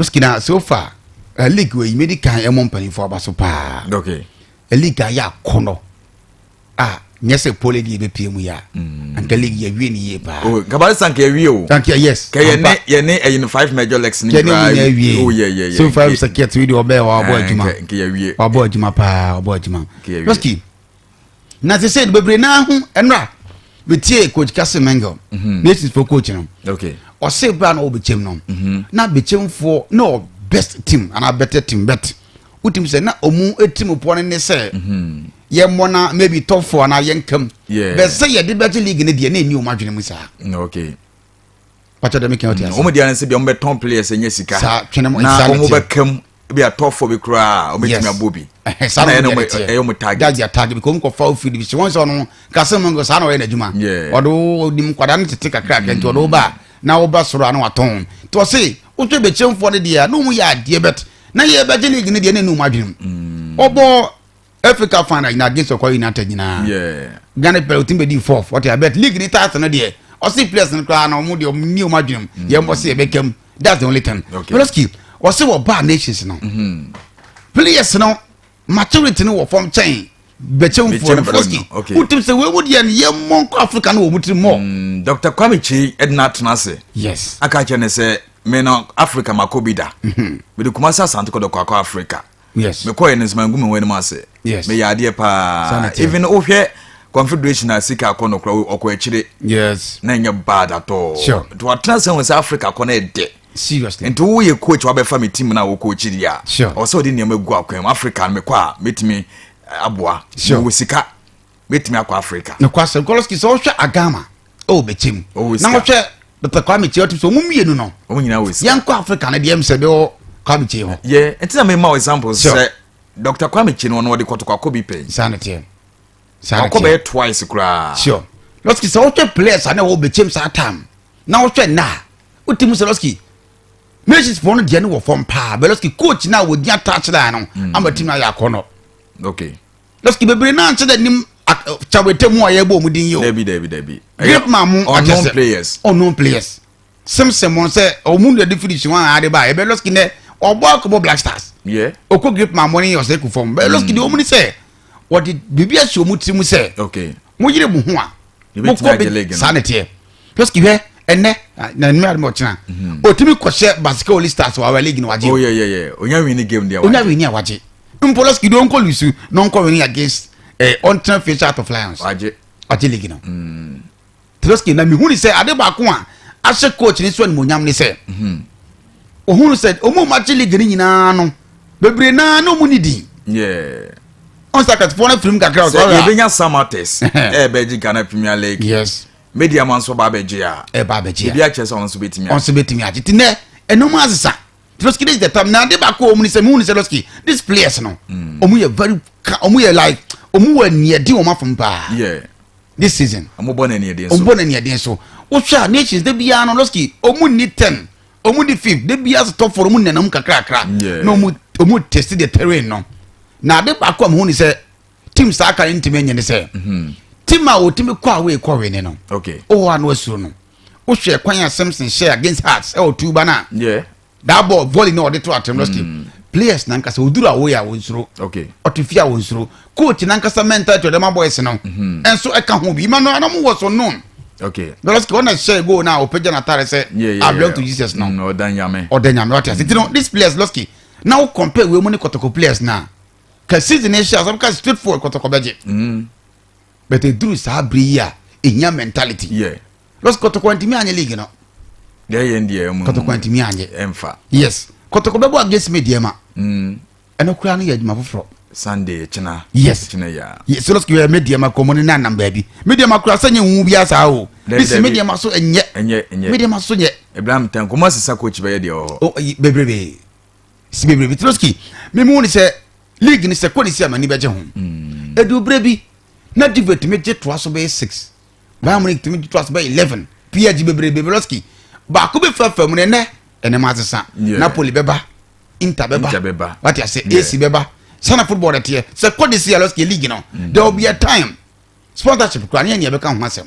[SPEAKER 1] Ski na so far uh, league wɔ yi medi kan ɛmɔ mpanyinfoɔ aba so paa okay.
[SPEAKER 2] league a yɛ
[SPEAKER 1] akɔnɔ a nyɛ sɛ pole de yɛbɛpie mu yɛ a mm. anka league yɛwie ne yie paa oh, kabare sa nka yɛwie
[SPEAKER 2] o anka yes ka yɛne
[SPEAKER 1] yɛne ɛyi
[SPEAKER 2] no five major legs ne nyinaa yɛwie oh yeah
[SPEAKER 1] yeah yeah
[SPEAKER 2] so five second wi
[SPEAKER 1] de ɔbɛɛ wabɔ adwuma wabɔ
[SPEAKER 2] adwuma paa
[SPEAKER 1] wabɔ adwuma lɔski na te sɛ bebree naa ho ɛnora metie coach kase mengel mhm. nations fo coach no ɔse bra
[SPEAKER 2] na ɔwɔ
[SPEAKER 1] bɛkyɛm no mhm. na bɛkyɛmfoɔ na ɔ best team anaa better team bet wotim sɛ na ɔmu ɛtirim poɔ no ne sɛ mhm. yɛmmɔ na maybe top four anaa yɛnkam bɛ sɛ yɛde bɛgye league no deɛ na ɛni ɔm adwene mu saa pata dɛ mekɛn ɔte ase wɔn deɛ sɛ bia wɔn bɛtɔn
[SPEAKER 2] players ɛnyɛ sika saa twene mu na
[SPEAKER 1] wɔn bɛka mu
[SPEAKER 2] ebi atɔfoɔ bi koraa wɔn bɛtumi abɔ bi saa na ɛyɛ wɔn
[SPEAKER 1] ɛyɛ wɔn target that's their
[SPEAKER 2] target because wɔn kɔ fa
[SPEAKER 1] ofiri bi si wɔn sɛ ɔno kase mu nko saa na ɔyɛ n'adwuma ɔde onim nkwadaa no tete kakra kɛntɛ ɔde ɔba mm. na ɔba soro ano atɔn to ɔse wotwe bɛkyɛnfoɔ no deɛ na wɔn yɛ adeɛ bɛt na yɛ bɛgye league no deɛ na ɛnu wɔn adwene mu mm. ɔbɔ africa final nyinaa against ɔkɔ united nyinaa ghana players ɔtumi bɛdi fourth ɔte abɛt league ne taate no deɛ ɔse players no koraa na ɔmo deɛ ɔmo ni ɔmo adwenem mm. yɛn bɔ se yɛbɛkam that's the only thing meloski ɔse wɔ baa nations no mm-hmm. players no maturity no wɔ fam kyɛn bɛkyɛmfoɔ no meloski wotim sɛ wei mu deɛ no yɛmmɔ nkɔ africa no wɔ mu tiri mɔ mm, dr kwame kyi
[SPEAKER 2] ɛdena atena ase yes aka kyɛ
[SPEAKER 1] ne sɛ
[SPEAKER 2] mena africa makɔ bi da mede kuma sɛ asante kɔdɔkɔ akɔ africa yes mekɔɛ no
[SPEAKER 1] nsima ngu me ho
[SPEAKER 2] anim ase yes meyɛ adeɛ paa even wohwɛ confederation a sika akɔ no kora ɔkɔ akyire yes na ɛnyɛ
[SPEAKER 1] bad atɔ
[SPEAKER 2] sure nti watena sɛ hu
[SPEAKER 1] sɛ
[SPEAKER 2] africa kɔ no ɛdɛ seriously nti woyɛ
[SPEAKER 1] coach
[SPEAKER 2] wabɛfa me team no a wokɔkyi deɛ a sure ɔsɛ wode nneɛma
[SPEAKER 1] gu akwan
[SPEAKER 2] mu africa no mekɔ a mɛtumi aboa sure wɔ sika mɛtumi akɔ africa nokwasɛm kɔlɔski sɛ
[SPEAKER 1] wohwɛ agama ɛwɔ bɛkyɛm na wohwɛ dr kwame kyɛ wotim sɛ ɔmo mmienu no yɛnkɔ
[SPEAKER 2] africa no deɛ m sɛ
[SPEAKER 1] bɛwɔ kwame kyɛ hɔ yɛ ɛnti na mema
[SPEAKER 2] example sɛ dr kwame kyɛ no ɔno ɔde kɔtokɔakɔ bi pɛi saa ne teɛ
[SPEAKER 1] ɔkɔ
[SPEAKER 2] bɛyɛ twice koraa sure lɔski
[SPEAKER 1] sɛ wohwɛ players a na ɛwɔ bɛkyɛm saa tam na wohwɛ nna a wotim sɛ lɔski nations pɔn no deɛ ne wɔ fam paa bɛ lɔski coach no a wɔgyina touchline no mm. ama tim no ayɛ akɔnnɔ okay
[SPEAKER 2] Dɔkita bebree
[SPEAKER 1] naa nkyɛn dɛ nim kyawrete mu a yɛbɔ ɔmo din yi o. Dabi dabi dabi. Great
[SPEAKER 2] man mu akyɛ
[SPEAKER 1] sɛ. Unknown players. Unknown players. Simpson mo sɛ ɔmo nu ɛde finish wɔn a ade ba ɛbɛ lɔski nɛ ɔbɔ akɔbɔ black stars. Yɛ. Ɔkɔ great
[SPEAKER 2] man mo ne
[SPEAKER 1] ɔsɛ ku fam. Bɛ lɔski de ɔmo ni sɛ wɔde biribi ahyɛ ɔmo tiri mu sɛ. Okay. mo yere mo
[SPEAKER 2] ho a
[SPEAKER 1] mo kɔ bi
[SPEAKER 2] saa ne teɛ
[SPEAKER 1] just kihwɛ ɛnɛ na nnum adum ɔkyina mhm. otimi kɔhyɛ basika oli stars wa awɛ league na wagye oh, onya
[SPEAKER 2] wini game deɛ onya wini a wagye
[SPEAKER 1] mpolos kidi onko lusu na onko wini against eh, ɔntena facial out of lions wagye wagye league
[SPEAKER 2] no mm.
[SPEAKER 1] teloski na mihuni sɛ ade baako a ahyɛ coach ne so animonyam ne sɛ mhm. ohun sɛ wɔn a wɔagye league no nyinaa no bebree naa na wɔn ni din.
[SPEAKER 2] ɔn sɛ akatfoɔ no afirim
[SPEAKER 1] kakra
[SPEAKER 2] sɛ ɔyɛ
[SPEAKER 1] a. yɛbɛnya samates ɛɛbɛgye
[SPEAKER 2] ghana
[SPEAKER 1] premier
[SPEAKER 2] league.
[SPEAKER 1] yes.
[SPEAKER 2] media ma nso ba abɛgye a. ɛba abɛgye a ebi akyɛ
[SPEAKER 1] sɛ ɔn nso bɛtumi agye.
[SPEAKER 2] ɔn nso bɛtumi agye ti nɛ
[SPEAKER 1] ɛnum asesa lɔski this is the time na ade baako wɔn ni sɛ mu ni sɛ lɔski these players no wɔn mm. yɛ very wɔn yɛ like wɔn wɔ aniɛdi wɔn afɔm paa. yeah. this
[SPEAKER 2] season.
[SPEAKER 1] ɔmo bɔ na ɛniɛden so ɔmo bɔ
[SPEAKER 2] na ɛniɛden so
[SPEAKER 1] wohwɛ a nations de biara no lɔski ɔmo ni ten ɔmo ni fifth de biara so top four ɔmo nenam kakrakra na ɔmo ɔmo test the terrain no na ade baako a mo ho ni sɛ team saa kan ntumi nye ne sɛ mhm. team a otumi kɔ a wɔyɛ kɔ wɛni no ɔwɔ ano asuro
[SPEAKER 2] no
[SPEAKER 1] wohwɛ kwan a samson hyɛ against hearts ɛwɔ tuba na that
[SPEAKER 2] ball volley
[SPEAKER 1] na ɔde to atem no still mm. players nankasa oduru awo yɛ awo nsoro ɔte fi awo
[SPEAKER 2] nsoro
[SPEAKER 1] coach nankasa mentality ɔde ma boys no mhm. ɛnso ɛka ho bi ima no anam wɔ so known okay because kò
[SPEAKER 2] ɔna hyɛ
[SPEAKER 1] goal na ɔpɛgya n'atare sɛ i belong to jesus now mm, ɔda nyame ɔda nyame
[SPEAKER 2] ɔte ase ti no
[SPEAKER 1] this players lɔski na o compare wei mu ne kɔtɔkɔ players na ka season ne hyɛ asam ka straight forward kɔtɔkɔ bɛgye. Mm. but eduru saa bere yi a ehia mentality yeah. los
[SPEAKER 2] kɔtɔkɔ ntumi
[SPEAKER 1] anyɛ league no deɛ yɛn deɛ
[SPEAKER 2] ɛmu kɔtɔkɔ ntumi anyɛ ɛnfa
[SPEAKER 1] yes
[SPEAKER 2] kɔtɔkɔ
[SPEAKER 1] bɛbɔ against me deɛ ma mm. ɛno koraa no yɛ adwuma foforɔ sunday kyena
[SPEAKER 2] yes kyena ya
[SPEAKER 1] yes los
[SPEAKER 2] kɔtɔkɔ me deɛ
[SPEAKER 1] ma kɔmɔ ne na nam baabi me deɛ ma koraa sɛ nyɛ nwu bi asa o bisi me deɛ ma so ɛnyɛ ɛnyɛ ɛnyɛ me deɛ ma so nyɛ ebram tan kɔmɔ sisa
[SPEAKER 2] coach bɛyɛ deɛ wɔ hɔ bebrebe
[SPEAKER 1] si bebrebe tiloski me mu ni sɛ league ni sɛ kɔ ne si amani bɛgye ho ɛdi hmm. obere bi na diva tumi gye toa so bɛyɛ six bayern munich tumi gye toa so bɛyɛ eleven pg bebrebe beloski baako bɛ fura fam no ɛnɛ ɛnɛ ma asesa napoli bɛba inter bɛba wate ase ac bɛba sana football de teɛ sɛ kɔ ne si aloski league no hmm. there will be a time sponsorship kura ne yɛ nea bɛka ho asɛm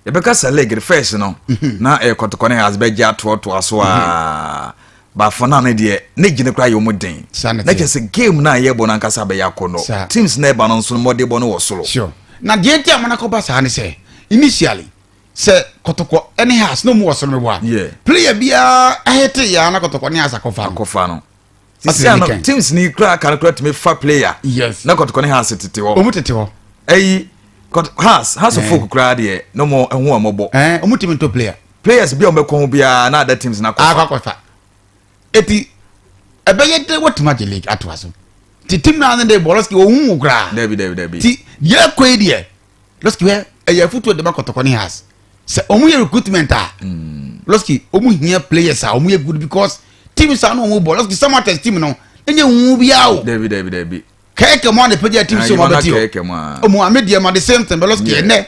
[SPEAKER 2] yɛbɛka sɛ leg the first no mhm. na ɛyɛ kɔtɔkɔ ne has bɛgye atoɔtoa so a mhm. baafo no ne deɛ ne gyene koraa yɛ mu den na kyɛ sɛ game no a yɛbɔ no ankasa bɛyɛ akɔnnɔ teams na ɛba no nso no mmɔdebɔ no wɔ soro na deɛ nti a
[SPEAKER 1] monakɔba saa ne sɛ initially sɛ kɔtɔkɔ ne has na ɔmu wɔ soro no wɔ a player biara ahete yɛa na kɔtɔkɔ ne has akɔfa no sisi na ne kan
[SPEAKER 2] teams ni kura kan kura tumi fa player yes na kɔtɔkɔ ne hans
[SPEAKER 1] tete
[SPEAKER 2] hɔ ɔmu tete hɔ ɛyi hans hans eh. folk kura deɛ na ɔmo ɛho ɔmo bɔ ɔmu eh, tumi ntɔ player
[SPEAKER 1] players bi a ɔmo bɛ kɔn ho biara
[SPEAKER 2] na ada teams na kɔfa akɔkɔfa
[SPEAKER 1] eti ɛbɛyɛ dɛ wɔtumi agye league ato aso ti team naa ne de bɔlɔsi ohun wɔ koraa dɛbi dɛbi dɛbi ti
[SPEAKER 2] yɛ kɔ yi
[SPEAKER 1] deɛ. lɔski hwɛ ɛyɛ afutuo dema kɔtɔkɔ ne has sɛ ɔmo yɛ recruitment a mm. lɔski ɔmo hia players a ɔmo yɛ good because team saa na ɔmo bɔ lɔski samatas team no ɛnyɛ nwu biara o dabi dabi dabi
[SPEAKER 2] kɛkɛ mu a na
[SPEAKER 1] pɛgya team sɛ ɔmo abɛti hɔ ɔmo ame deɛ ma de same thing bɛ lɔski ɛnɛ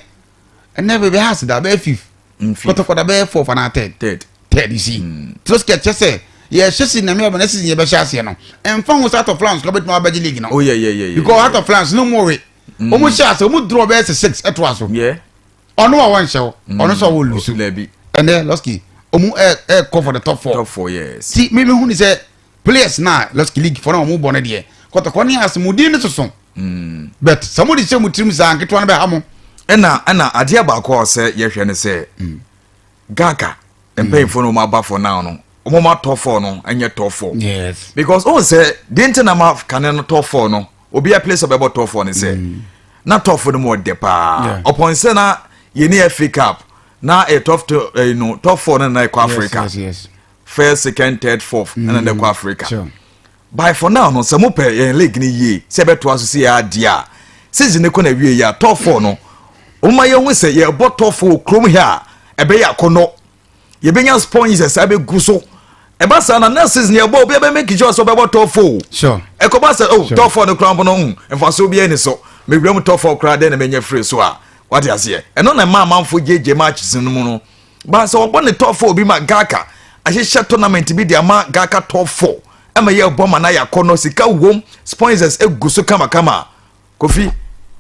[SPEAKER 1] ɛnɛ bɛbɛ has da bɛyɛ fifth kɔtɔkɔ da bɛyɛ fourth anaa third third third you see mm. lɔski ɛkyɛ sɛ yɛhyɛ si name ɔbɛn ɛsi yɛbɛhyɛ aseɛ no ɛnfa ho sɛ atɔ flans kɔ bɛtuma abɛgye league no oh, because
[SPEAKER 2] atɔ flans no
[SPEAKER 1] mu we Mm. wɔn hyɛ ase wɔn draw bɛyɛ sɛ six ɛto aso
[SPEAKER 2] ɔno a wɔnhyɛ
[SPEAKER 1] hɔ mm. ɔno sɛ ɔwɔ lusu ɛnɛ lɔski wɔn ɛ ɛ kɔ for the top four top four yes ti mi mi hu
[SPEAKER 2] ni sɛ
[SPEAKER 1] players na lɔski league fɔ na wɔn bɔ ne deɛ kɔtɔkɔ ne asomuden ne soso mm. but sɛ wɔn de hyɛ wɔn tirim saa nketewa no bɛ ha mo. ɛna ɛna adeɛ
[SPEAKER 2] baako a ɔsɛ yɛhwɛ ne sɛ gaga mpanyinfoɔ no wɔn aba for now no wɔn ma tɔ four no ɛnyɛ tɔ four yes because ohun
[SPEAKER 1] sɛ
[SPEAKER 2] deɛ nti na ma kane no tɔ four no obi apele sɛ ɔbɛbɔ tɔ four no sɛ mm. na tɔ four no mu ɔdɛ paa ɔpɔn sɛ na yɛn ni fa cup na ɛyɛ tɔ ɛyi no tɔ four no na ɛkɔ africa first
[SPEAKER 1] second
[SPEAKER 2] third fourth ɛna na ɛkɔ africa. Sure. Bye for now no sɛ mo pɛ yɛn league no yie sɛ ɛbɛtoa so sei ara deɛ a season no kɔ na wie yɛ a top four no wɔma yɛn ho sɛ yɛbɔ top four wɔ kurom hɛ a ɛbɛyɛ akɔnɔ yɛbɛnya sponges ɛsɛ abɛgu so ɛba saa na na season yɛ bɔ obi ɛbɛ make sure sɛ ɔbɛbɔ top four ɛkɔba sɛ
[SPEAKER 1] oh top
[SPEAKER 2] four no koraa mpo no hmm, mfaso bi ɛni so mewura mu top four koraa dɛn na mɛnya firi so a wate aseɛ ɛno na ɛma amanfo gyegye matches no mu no baa sɛ ɔbɔ ne top four bi ma gaka ahyehyɛ tournament bi de ama gaka top four ɛma yɛ bɔ ma na yakɔ no sika wom sponsors egu so kamakama kofi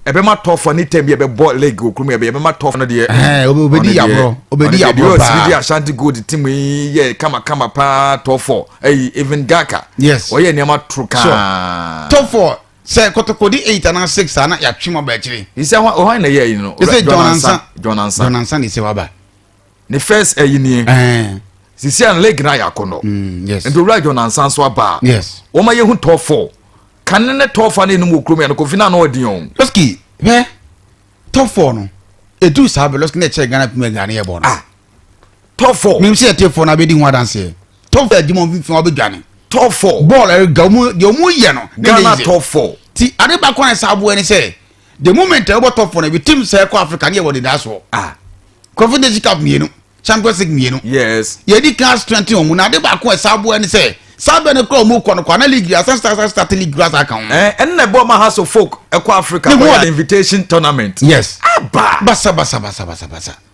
[SPEAKER 2] ɛbɛma top four ne tɛm bi ɛbɛbɔ league wɔ kurom ɛbɛyɛ ɛbɛma top no deɛ ɛɛ obedi yaboro
[SPEAKER 1] obedi yaboro paa ɔne deɛ
[SPEAKER 2] ashanti gold team yi yɛ kamakama paa top four ɛyi even gaka yes ɔyɛ nneɛma
[SPEAKER 1] toro kaa
[SPEAKER 2] top four.
[SPEAKER 1] Sɛ kotokodi eight anaa six a na yɛatwe mu aba akyire. He said hwan hwan na ɛyɛ ayi
[SPEAKER 2] no. He said John Ansa. John
[SPEAKER 1] Ansa. John Ansa na ɛsɛ waba. Ne first
[SPEAKER 2] ayi nie. Ɛɛ. Sisi a leg na ayɛ akɔnɔ. Mm, yes. Nti owura John
[SPEAKER 1] Ansa nso
[SPEAKER 2] aba. Yes. Wɔn ayɛ hu
[SPEAKER 1] tɔɔ fɔ.
[SPEAKER 2] Kane ne tɔɔ fa ne enum wɔ kurom yɛ no kofi na ano ɔdi yɛn. Lɔski hɛ
[SPEAKER 1] tɔɔ fɔ no edu saa bɛ lɔski na ɛkyɛ Ghana pim ɛga ne yɛ bɔ no. Ah tɔfɔ.
[SPEAKER 2] mímu sɛ yɛte fɔ na abɛdi
[SPEAKER 1] ho adanseɛ tɔfɔ adi mɔ mfimfini ɔbɛ dwane tɔfɔ bɔɔl
[SPEAKER 2] ɛrega ɔmu deɛ
[SPEAKER 1] ɔmu yɛ no ne ne yɛ tɔfɔ
[SPEAKER 2] ti ade baako a
[SPEAKER 1] ɛsɛ aboɛ ne sɛ the moment a ɛbɔ tɔfɔ no ebi tim sɛ ɛkɔ africa ne yɛ wɔ deda soɔ ah confederation cup mmienu champions league mmienu yes yɛdi kan
[SPEAKER 2] strengthen
[SPEAKER 1] ɔmu na ade baako a ɛsɛ aboɛ ne sɛ saa bɛ no kura ɔmu kɔ no kɔ ana league asan start start start league kura saa kan ho ɛn ɛn na ɛbɔ ma ha
[SPEAKER 2] so folk ɛkɔ africa ne ho invitation tournament yes aba
[SPEAKER 1] basa
[SPEAKER 2] basa basa
[SPEAKER 1] basa basa.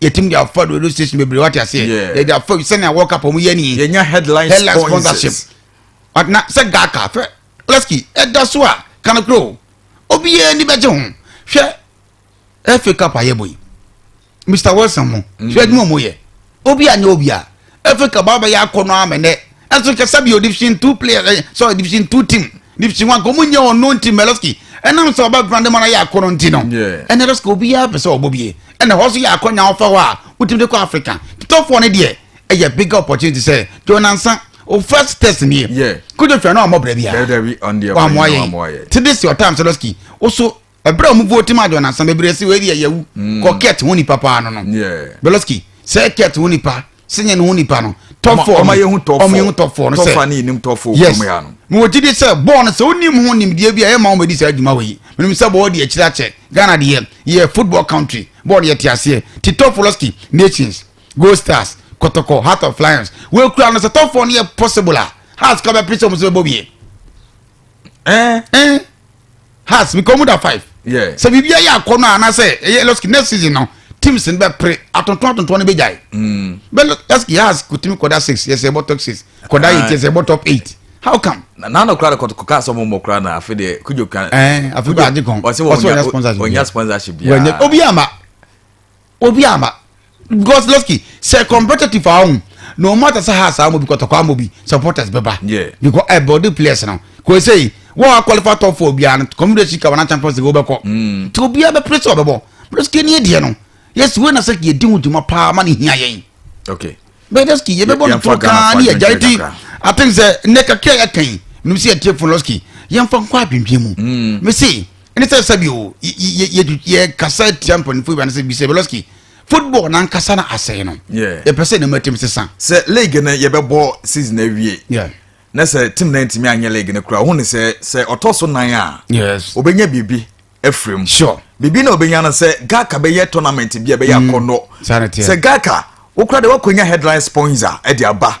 [SPEAKER 1] yɛtumi de afa radio station bebree wate aseɛ yɛde afa sɛnea world cup ɔmo yɛ nii yɛnya headline
[SPEAKER 2] sponsorship
[SPEAKER 1] na sɛ gaka fɛ leski ɛda so a kanokoro obiara ni bɛgye ho hwɛ ɛfɛ cup ayɛ bɔ yi mr wilson mo hwɛ adwuma mo yɛ obi anyɛ obi a Efe ka ba bɛyɛ akɔnɔ ama nɛ ɛnso hwɛ sɛbia division two player eh, sorry division two team division one kɔmu nyɛ ɔno nti Mɛlɛski ɛnam sɛ ɔba grande mana yɛ akɔnɔ nti no ɛnɛ rɛska obiara pɛ sɛ ɔbɔ bie ɛna hɔ so yɛ akɔnya ɔfa hɔ a wotumi de kɔ Africa titɔfoɔ no deɛ ɛyɛ bigger opportunity sɛ Joe Nansa o first test nie kojo hwɛ no ɔmmɔ brɛ biara wammoa yɛn
[SPEAKER 2] tede si ɔtam
[SPEAKER 1] Mɛlɛski wo so ɛberɛ a ɔmo vote ma adɔn asa bebree si wei deɛ yɛwu mm. kɔ kɛt ho nipa paa no no beloski sɛ kɛt ho nipa sɛnyɛ ne ho nipa no tɔfɔ ɔmo yɛ ho
[SPEAKER 2] tɔfɔ no sɛ
[SPEAKER 1] yes
[SPEAKER 2] mo wɔ gyidi
[SPEAKER 1] sɛ
[SPEAKER 2] bɔɔl
[SPEAKER 1] no sɛ onim ho nimdeɛ bi a ɛyɛ ma wɔn bɛdi saa adwuma wɔ yi menim sɛ bɔɔl deɛ akyire akyɛ ghana deɛ yɛ football country bɔɔl deɛ te aseɛ ti tɔfɔ lɔski nations gold stars kɔtɔkɔ heart of lions wɔakura no sɛ tɔfɔ no yɛ possible a hearts kɔ bɛpere sɛ ɔmo sɛ bɛbɔ wie Eh, eh. Has mi kɔn da five. Yeah. Sɛ biribi ayɛ akɔ
[SPEAKER 2] no
[SPEAKER 1] anaasɛ ɛyɛ lɔski next season no teams no bɛ pere atontɔn atontɔn no bɛ gya yi. Mm. Bɛ lɔski has kutumi kɔda six yɛ sɛ ɛbɔ top six kɔda ah. eight yɛ sɛ ɛbɔ top eight how come. nana kura de kɔtɔ kɔka
[SPEAKER 2] asɔmu mɔ kura na afi de kujo kan. ɛɛ afi de adi kan
[SPEAKER 1] ɔsi wɔ ɔnya sponsorship
[SPEAKER 2] bi. ɔsi wɔ nya sponsorship bi. obi ama.
[SPEAKER 1] Obi ama because losky sɛ competitive a ɔhun no matter sɛ house a wɔn bi kɔtɔkɔ ama obi supporters bɛba because ɛ body
[SPEAKER 2] players
[SPEAKER 1] no kò ɛsɛ yi wɔn a qualify top four biara no community sika wɔn na champions league wɔbɛkɔ ti hmm. obi a bɛ pere sɛ ɔbɛbɔ losky ni deɛ no yɛsi wei na sɛ yɛ di ho dwuma paa ma ne hia yɛn. okay
[SPEAKER 2] bɛyɛ dɛ ski yɛbɛbɔ
[SPEAKER 1] no toro kaa ne yɛgyae ti aten sɛ nnɛ kakra yɛka yi menim sɛ yɛtie fo losky yɛmfa nkɔ adwendwen mu mese ɛne sɛ sɛbi o yɛkasa tia mpanimfoɔ yi ba ne sɛ bisɛ bɛlɔski football nankasa no asɛe no yɛpɛ sɛ ne
[SPEAKER 2] matim sesa
[SPEAKER 1] sɛ league no
[SPEAKER 2] yɛbɛbɔ season awie na sɛ
[SPEAKER 1] tim no
[SPEAKER 2] ntumi anyɛ league no koraa ɔhu ne sɛ sɛ ɔtɔ so nan a ɔbɛnya biribi afiri mu sure. biribi na
[SPEAKER 1] ɔbɛnya no sɛ
[SPEAKER 2] gaka bɛyɛ tournament bi a bɛyɛ mm. akɔnnɔ sɛ gaka wokora de woakɔnya headline sponsor de aba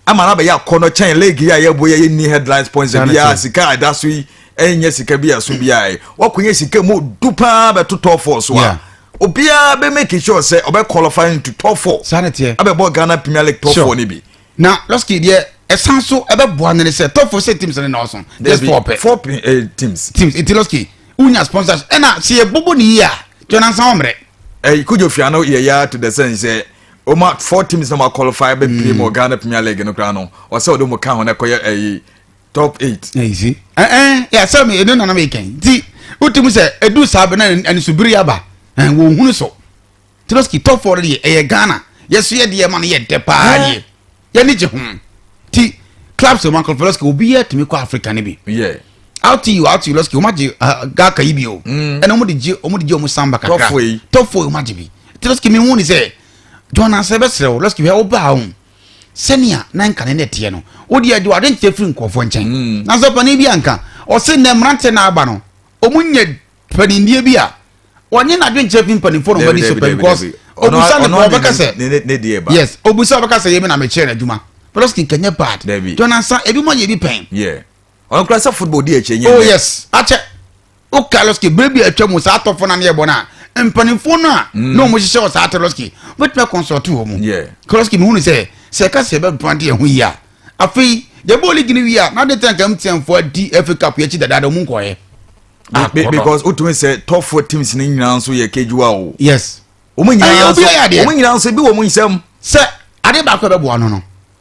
[SPEAKER 2] ama no
[SPEAKER 1] abɛyɛ akɔnnɔ
[SPEAKER 2] kyɛn league yi a yɛbɔ yɛyɛ ni headline sponsor biaa sika ɛda so yi ɛnyɛ sika bi aso bi a wakɔnya sika mu du paa bɛto top four so a obiara bɛ make sure sɛ ɔbɛ qualify into top four sani tiɛ abɛbɔ ghana
[SPEAKER 1] premier
[SPEAKER 2] league top four ni bi. na lɔski deɛ
[SPEAKER 1] ɛsan so ɛbɛboa no ne sɛ top four sɛ teams no na ɔso just four pɛ four pɛ eh,
[SPEAKER 2] teams teams nti lɔski
[SPEAKER 1] wonya sponsors ɛna sɛ yɛbobɔ ne yie a tɔnansa wɔmmerɛ ɛyi kojo fia no
[SPEAKER 2] yɛ ya to the sense sɛ ɔma four teams na ma qualify bɛ pie mu ghana premier league no koraa no ɔsɛ ɔde mu ka ho na ɛkɔyɛ ɛyi top eight. na yi si ɛn ɛn
[SPEAKER 1] yɛ asɛm yɛ ne nana mi kɛn nti o ti mu sɛ edu saa bɛ na anisubiri yaba ɛn wɔn hunu so tiroski top four deɛ ɛyɛ ghana yɛ so yɛ deɛ ma no yɛ dɛ paa deɛ yɛ ni gye ho ti club sɛ michael foloski obi yɛ tumi kɔ africa ne bi. Yeah. out
[SPEAKER 2] you out
[SPEAKER 1] you loski wɔn agye ah, gaka yi bi o mm. ɛna wɔn de gye wɔn de gye wɔn samba kakra top four yi top four yi wɔn agye bi tiroski mi hu ni sɛ jɔn na sɛ bɛ srɛ o loski hɛ o ba ahun. sɛnea na nka ne nɛteɛ no wodi agye wade nkyerɛ firi nkurɔfoɔ nkyɛn hmm. na sɛ panin bi anka ɔse nnɛ mmeranteɛ na aba no ɔmu nyɛ panindeɛ bi a wɔnye n'adwe nkyerɛ fi mpanimfoɔ na wɔn ani so pɛ because obusa ne kɔ ɔbɛka sɛ yes obusa ɔbɛka sɛ yɛmi na mekyerɛ n'adwuma pɛlɛskin kanyɛ bad jɔnansa ebi mo ayɛ bi pɛn ɔno kura
[SPEAKER 2] sɛ football di akyire nyɛ oh yes akyɛ
[SPEAKER 1] o carlos ke bere bi atwa mu saa atɔfo na ne yɛ bɔ no a mpanimfoɔ no a mm. na wɔn hyehyɛ wɔ saa carlos ke wobɛtumi akɔnsɔɔte wɔ mu carlos ke mehu no sɛ sɛ ɛka sɛ ɛbɛboa de ɛho yi a afei yɛbɔ league no wie a na de tɛn kam tiɛnfoɔ adi fa cup yɛakyi dadaada mu nkɔɛ ah, because
[SPEAKER 2] wotumi sɛ tɔfoɔ teams no nyinaa nso yɛ kejuwa o yes wɔn
[SPEAKER 1] nyinaa nso
[SPEAKER 2] wɔn nyinaa nso bi wɔ mu nsɛm sɛ ade
[SPEAKER 1] baako a ɛbɛboa no no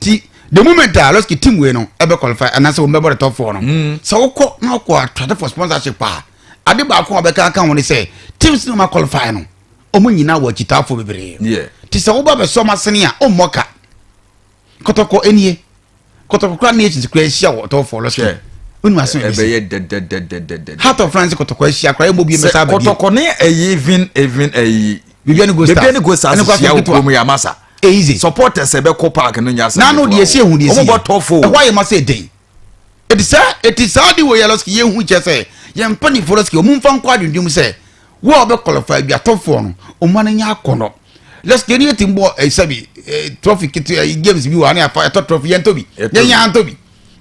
[SPEAKER 1] ti the moment a lɔski team wei no ɛbɛ qualify anaasɛ wɔn bɛ bɔ the top four no hmm. sɛ wokɔ na wokɔ atwade for sponsorship a ade baako a wɔbɛka aka ho ne sɛ teams no ma qualify no wɔn nyinaa wɔ akyitaafo bebree ti sɛ woba bɛ
[SPEAKER 2] sɔm
[SPEAKER 1] asene a ɔmmɔ ka kɔtɔkɔ enie kɔtɔkɔ kura ne akyinsi kura ahyia wɔ top four lɔski wọ́n mu asan ẹ̀bẹ̀ yẹ dẹ́dẹ́dẹ́dẹ́dẹ́.
[SPEAKER 2] heart of france
[SPEAKER 1] kọtọkọ ẹ ṣia kura ẹ mọ bi ẹ mẹsà abẹ bi. kọtọkọ ni ẹyi
[SPEAKER 2] even even ẹyi. bibi ẹni go
[SPEAKER 1] stars ẹni go stars
[SPEAKER 2] ṣia okurom yamasa. Eidze. Supporters
[SPEAKER 1] a ɛbɛkɔ
[SPEAKER 2] park no nyɛ asɛm ketewa o. N'ano deɛ sɛ ehu deɛ sɛ yɛ.
[SPEAKER 1] Wɔbɛtɔ fo o. Ɛhɔ ayɛ ma
[SPEAKER 2] sɛ den.
[SPEAKER 1] Eti saa eti saa de wei ara sɛ yɛ hu kyɛ sɛ yɛn mpanyinfoɔ no sɛ wɔn nfa nkɔ adwendwen mu sɛ wo a ɔbɛ qualify bi atɔfoɔ no wɔn ani nyɛ akɔnɔ. Lɛs yɛn ni yɛ ti mbɔ ɛsɛ bi trophy kete ɛyi games bi wɔ ani afa ɛtɔ trophy yɛn tɔ bi yɛn yɛn antɔ bi.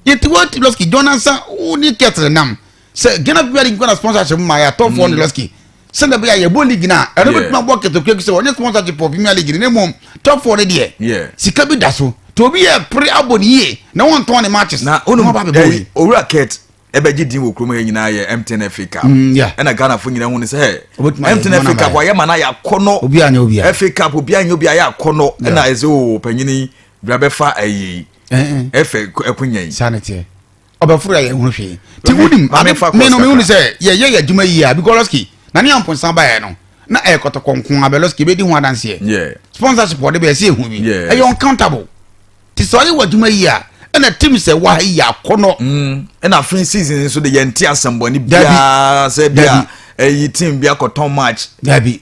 [SPEAKER 1] Yɛ ti wɔ ti lɔski jɔn ansa wo ni kɛtɛrɛ nam sɛ ghana bi adi nkwa na sponsorship ma yɛ atɔ fɔ ne lɔski sɛ na bɛ yɛ yɛbɔ league na ɛno bɛ tuma bɔ kɛtɛkɛ sɛ ɔnyɛ sponsorship wɔ premier league ne mu tɔ fɔ ne deɛ sika bi da so to obi yɛ pere abɔ ne yie na wɔn tɔn ne matches na ɔno ba bɛ bɔ yi
[SPEAKER 2] owura kɛt ɛbɛgye din wɔ kurom yɛ nyinaa yɛ mtn fa cup mm, ɛna ghanafoɔ nyinaa hu ne sɛ mtn fa cup ayɛ ma no ayɛ akɔnɔ fa
[SPEAKER 1] cup obi anyɛ obi
[SPEAKER 2] ayɛ akɔnɔ ɛna ɛsɛ o panyini bra bɛfa ayɛ yi ɛfɛ ɛkonya yi
[SPEAKER 1] ɔbɛforo yɛ ho hwee ti wo nim ade mi no mi hu sɛ yɛ yɛ yɛ adwuma yi a because lɔski na ne yɛn mponsa ba yɛ no na ɛyɛ kɔtɔkɔ nko abɛ lɔski ebe di ho adanseɛ sponsorship ɔde bɛ ɛsɛ ehu bi ɛyɛ uncountable ti sɛ ɔyɛ wɔ adwuma yi a ɛna tim sɛ wa ha yi yɛ akɔnɔ. Mm, ɛna afei
[SPEAKER 2] season nso de yɛn ti asɛmbɔni biara sɛ bia ɛyi eh, team bi akɔtɔn match. dabi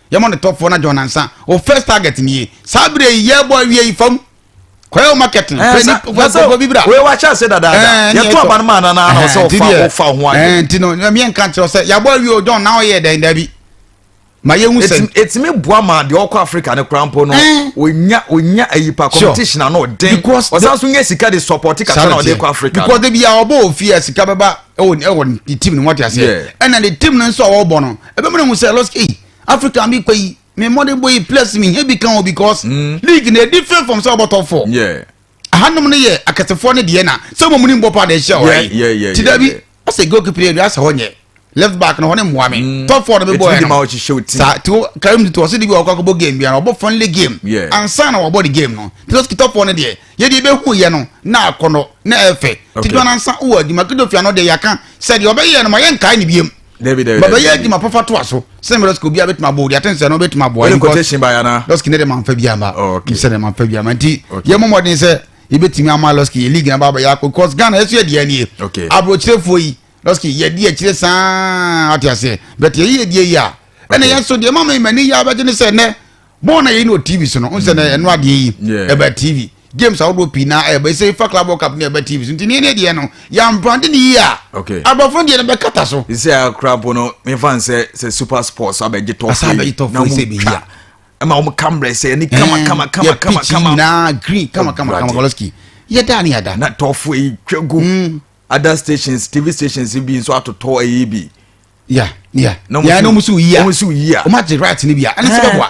[SPEAKER 1] Yɛmɔ no tɔfoɔ na John Ansa wo first target nie saa berɛ yi yɛbɔ awie yi fam kɔyɛ wo market no pɛ nipa bi bra
[SPEAKER 2] wei wakyɛ ase dadaada yɛto aba no maa nana na ɔsɛ ɔfa ɔfa ho adwene nti no ɛmeɛ nka nkyerɛ
[SPEAKER 1] sɛ yɛabɔ awie o John na ɔyɛ dɛn da bi ma yɛhu sɛ ɛtumi boa ma deɛ
[SPEAKER 2] ɔkɔ africa no kora mpo no ɔnya ɔnya ayipa competition ano ɔden ɔsan so nya sika de support kakra na ɔde kɔ africa because de bia ɔbɔ ofie
[SPEAKER 1] a sika bɛba ɛwɔ ɛwɔ ne team no wɔte aseɛ ɛna ne team no nso a wɔbɔ no ɛbɛma no hu sɛ lɔs ei africa mi kɔ yi mi mmɔden bɔ yi plus mi hia bi kan o because mm. league na edi fɛn fam sɛ ɔbɔ top four ahanom no yɛ akɛsefoɔ ne deɛ na sɛ wɔn mu ni mbɔ paa na ɛhyɛ ɔyɛ ti dabi ɔsɛ goalkeeper yɛ bi asɛ hɔ nyɛ left back na hɔ ne mmoa mi mm. top four na mi bɔ yɛ no saa ti
[SPEAKER 2] o
[SPEAKER 1] karim ti to ɔsɛ de bi ɔkɔ akɔbɔ game bi ara ɔbɔ friendly game ansa na ɔbɔ de game no ti o top four ne deɛ yɛde ebehu yɛ no na akɔnɔ na ɛfɛ ti dɔn ansa wɔ adwuma kedofia no de yɛaka sɛ deɛ ɔbɛyɛ no ma yɛ nkae ne biem bɛbɛyɛ adwuma pɔfa to aso sɛ mmerɛ sɛ obi a bɛtumi abɔ odi ate nsɛ no bɛtumi aboa
[SPEAKER 2] lɔski ne de mamfa bi ama
[SPEAKER 1] oh, sɛ ne mamfa bi ama nti yɛ mmɔmmɔden sɛ yɛbɛtumi ama lɔski yɛ league na baabɛyɛ akɔ because ghana ɛso yɛ deɛ nie aborɔkyerɛfoɔ yi lɔski yɛdi akyire saa ate aseɛ bɛte yɛyɛ die yi a ɛne yɛn so deɛ mama imani yɛ abɛgye ne sɛ nɛ bɔɔl na yɛyi no wɔ tv so no n sɛ na ɛno adeɛ yi ɛbɛ tv games ahodoɔ pii na ɛbɛ sɛ fa club world cup ne ɛbɛ tv so nti ne ne deɛ no yɛamprante ne yie a aborɔfo no deɛ no bɛkata so sɛ akora mpo no
[SPEAKER 2] mefa n sɛ sɛ super sports abɛgye tɔfo na mutwa
[SPEAKER 1] ɛma wɔn kambrɛ
[SPEAKER 2] sɛ ɛni kama eh, kama kama kama kama nyinaa
[SPEAKER 1] green kama kama kama kɔlɔski yɛ daa ni ada. na tɔfo yi twɛ
[SPEAKER 2] gu hmm. other stations tv stations bi nso atotɔ ɛyi bi ya
[SPEAKER 1] ya ya na ɔmo si oyi ya ɔmo si oyi ya ɔmo agye right ni bi ya ɛna sɛ bɛboa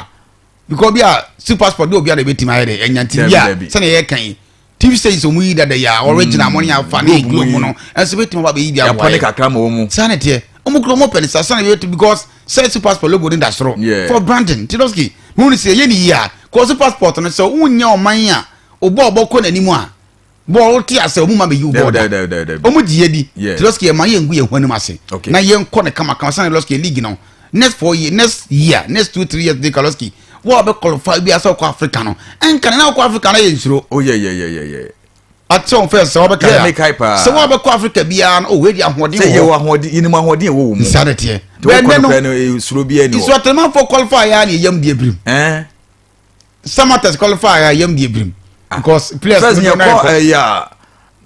[SPEAKER 1] because bi a si passport bi a obi a na ebetumi ayɛ dɛ ɛnya ti bi a sɛnɛ yɛ kan yi tv stations ɔmu yi dada yi a ɔregyina mm. mo ne afa ne eglo mu no ɛnso bɛtumi aba bɛyi bi aboa yɛ
[SPEAKER 2] saa ne teɛ ɔmu kura
[SPEAKER 1] ɔmu pɛ ne sa sani bɛ to because sɛ super passport logo ne da soro for branding tidoski mu ni sɛ yɛ ne yi a kɔsu passport no sɛ ɔmu nya ɔman a ɔbɔ ɔbɔ kɔ n'anim a bɔɔ wo te ase ɔmo ma bɛyi wo bɔɔ da ɔmo gye yɛ di te lɔski yɛ ma yɛ ngu yɛ ho anim ase na yɛ nkɔ ne kama kama sanni lɔski yɛ league no next four year next year next two three years de ka lɔski wɔn a bɛ qualify bi asɛ ɔkɔ africa no nka ne na ɔkɔ africa na yɛ nsoro. o oh, yɛ yɛ yɛ yɛ yɛ. ati wɔn fɛ sɛ wɔbɛ ka ya sɛ wɔn bɛ kɔ africa biara no o wei di ahoɔden wɔ hɔ sɛ yɛ wɔ ahoɔden yɛ ni mu
[SPEAKER 2] ahoɔden wɔ wɔn mu nsa de teɛ bɛn
[SPEAKER 1] nɛ no
[SPEAKER 2] eh, nsoro bi yɛ ni wɔ nsoro atɛnɛmafo qualify
[SPEAKER 1] ya ni yɛ yam di ebirim. samatas qualify a yam di ebirim
[SPEAKER 2] ah. because
[SPEAKER 1] players first yɛ kɔ ɛyà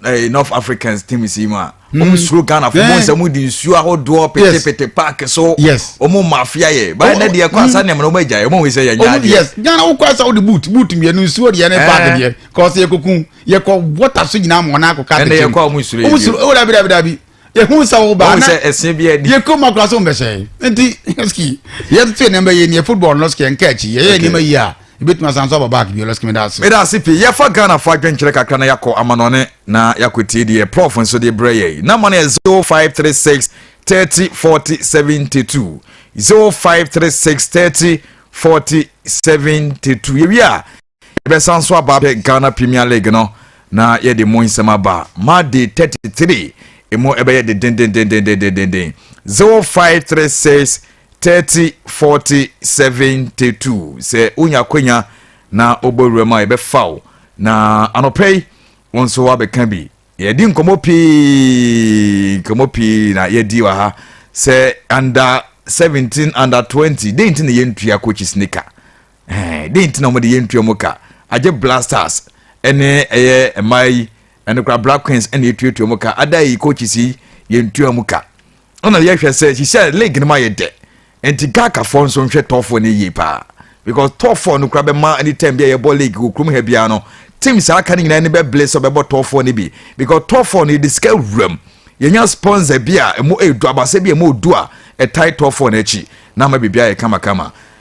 [SPEAKER 1] ɛyà
[SPEAKER 2] north africans team si mu a wɔn hmm. suro ghana fún mu nsɛm di nsuo ahodoɔ petepete paaki so wɔn mafia
[SPEAKER 1] yɛ báyìí
[SPEAKER 2] ne deɛ kɔ hmm. asa nìyɛn wɔn agya yɛ wɔn wɔ sɛ yɛ nya adeɛ. yes ghana wokɔ
[SPEAKER 1] asa wode boot boot mmienu nsuo deɛ ne paaki eh. deɛ kɔsi yɛ kokun yɛ kɔ water so nyinaa mu wɔn akɔ kaa tete mu ɛnna yɛ kɔ a wɔn suro yɛ bi wɔn
[SPEAKER 2] suro ɛwɔ dabi dabi dabi.
[SPEAKER 1] yɛhu sɛ wo baa na ɛsɛ bi adi yɛ kɔn
[SPEAKER 2] mu akora so mbɛsɛn
[SPEAKER 1] nti ski yɛ tete nneɛma yɛ nie football no ski nka akyi yɛ yɛ nneɛma yie a ebetumi asan so aba back bi ɔlɔski mi da ase. mi da ase pii yɛfa ghana
[SPEAKER 2] fo adwenkyerɛ kakra na yakɔ amanɔne na yakɔ tie deɛ prof nso de brɛ yɛ yi namba no yɛ zero five three six thirty forty seventy two zero five three six thirty forty seventy two yɛ wi a. Yɛbɛsan nso aba abɛhwɛ Ghana Premier League no na yɛde mu nsɛm aba. Monday 33 emu ɛbɛyɛ dedendendendendenden 0536 30 40 72 sɛ wonya akwanya na wobɔ wura mu a yɛbɛfa wo na anɔpa yi wo nso woabɛka bi yɛdi nkɔmmɔ pii nkɔmmɔ pii na yɛdi wɔ ha sɛ under 17 under 20 dɛn nti na yɛntua coaches nika Dɛn nti na wɔde yɛntua mu ka? Agye Black Stars ne ɛyɛ mmaa yi ɛne kora Black Queens na yɛtuatua mu ka. Ada yi coaches yi yɛntua mu ka. Ɛna yɛhwɛ sɛ hyehyɛ league no ma yɛ dɛ. Nti Ghakafoɔ nso nhwɛ tɔfoɔ no yie paa because tɔfoɔ no kora bɛma anytime bi a yɛbɔ league wɔ kurom ha biara no team saa aka no nyinaa ni bɛbele sɛ ɔbɛbɔ tɔfoɔ no bi because tɔfoɔ no yɛde sika wuram yɛnya sponsor bi a ɛmu ɛdu abasɛ bi a ɛmu ɔdu a ɛtae tɔfoɔ no akyi na ama biribiara yɛ kamakama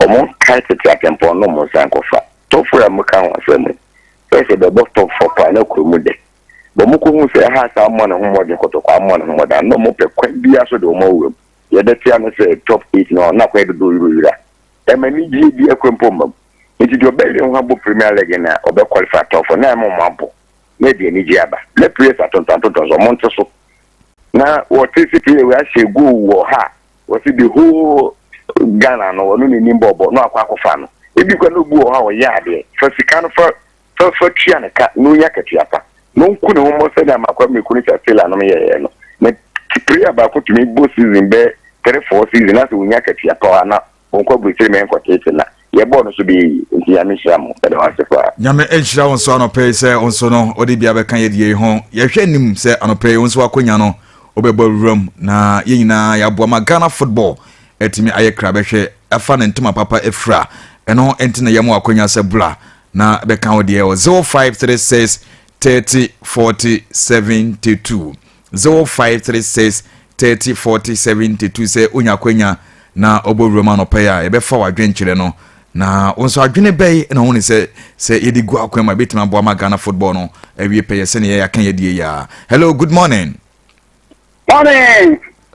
[SPEAKER 3] Wɔkae tete atempɔn no mu sankɔfa tɔfo a muka ho asɛm yi sɛ sɛ bɛbɔ tɔfo paa na kurow mu dɛ, bɔ mukohu sɛ Ahas ammɔ ne ho mmɔden kɔtɔkɔ ammɔ ne ho mmɔden a, na wɔpɛ kwan biara so de wɔn awura mu. Nea ɛbɛte ano sɛ Top Eight no na akwan dodow yira oyira. Ɛmma anigye biara kura mpo mma mu. Enti deɛ ɔbɛyere ne ho abɔ Premier League no a, ɔbɛ qualify tɔfo no a ɛma wɔn abɔ na ɛde anigye aba. Ná players atontɔn atontɔn so, wɔnte so. Ná wɔte sɛ player wei ahyɛ goal wɔ ha a, Wɔsi the whole Ghana no ɔno na nim bɔɔbɔ na wakɔ akɔfa no. Ebi kura na obi wɔ hɔ a ɔyɛ adeɛ. Fa sika no fa fa fa tua ne ka na onya akatua pa. Na ɔnku ne ho mmɔ sɛdeɛ Amarkwa Miriku ne Chatsela nom yɛɛyɛ no. Na prayer baako tumi bɔ season bɛyɛ three four season na sɛ ɔnya akatua pa a na ɔnkɔ aburokyire mmɛnkɔteete na. Yɛbɔɔ no so bɛyɛ yie, enti Nyame nhyira mo. Yɛda wo ase paa. Nyame nhyira wo nso
[SPEAKER 2] anɔpa yi sɛ wo nso no wode bi abɛka yɛn adiyɛ yi ho. Yɛhwɛ anim sɛ anɔpa yi wo nso w'akonya no wobɛbɔ wuram na yɛn nyinaa yɛaboa ma Ghana football atumi ayɛ kra bɛhwɛ afa ne ntoma papa afira. Ɛno nti na yɛama wo akonya sɛ bra na bɛka wo deɛ wɔ 0536 30 40 72. 0536304072 sɛ onya akwanya na ɔbɔ wuram anɔpa yi a yɛbɛfa w'adwenkyerɛ no na wo nso adwene bɛyi na ɔhu ne sɛ sɛ yɛde gu akwan ma ɛbɛtumi aboa ma Ghana football no awie pɛyɛ sɛnea yɛaka yɛdeɛ yi a hello good morning morning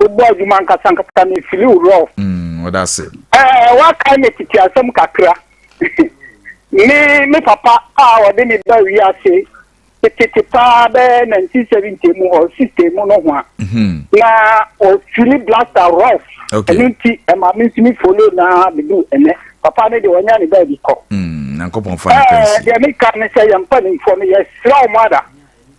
[SPEAKER 4] wobɔ adwuma ankasa ankasa no fili wo rɔf. Mm, ɔda ase.
[SPEAKER 2] Ɛɛ wakae me
[SPEAKER 4] tete asɛm kakra. me me papa a ɔde me ba wiase tete paa bɛyɛ 1970 mu hɔ 60 mu no ho a. Mhm. Na ɔfili blaster rɔf. Okay. Ɛno nti
[SPEAKER 2] ɛma me nso
[SPEAKER 4] me follow na bedu ɛnɛ. Papa no deɛ ɔnya ne baabi kɔ. Mm, nyankopɔn fa
[SPEAKER 2] no Ɛɛ kɛnsi. deɛ meka ne sɛ
[SPEAKER 4] yɛmpa nimfoɔ no yɛsrɛ wo mada.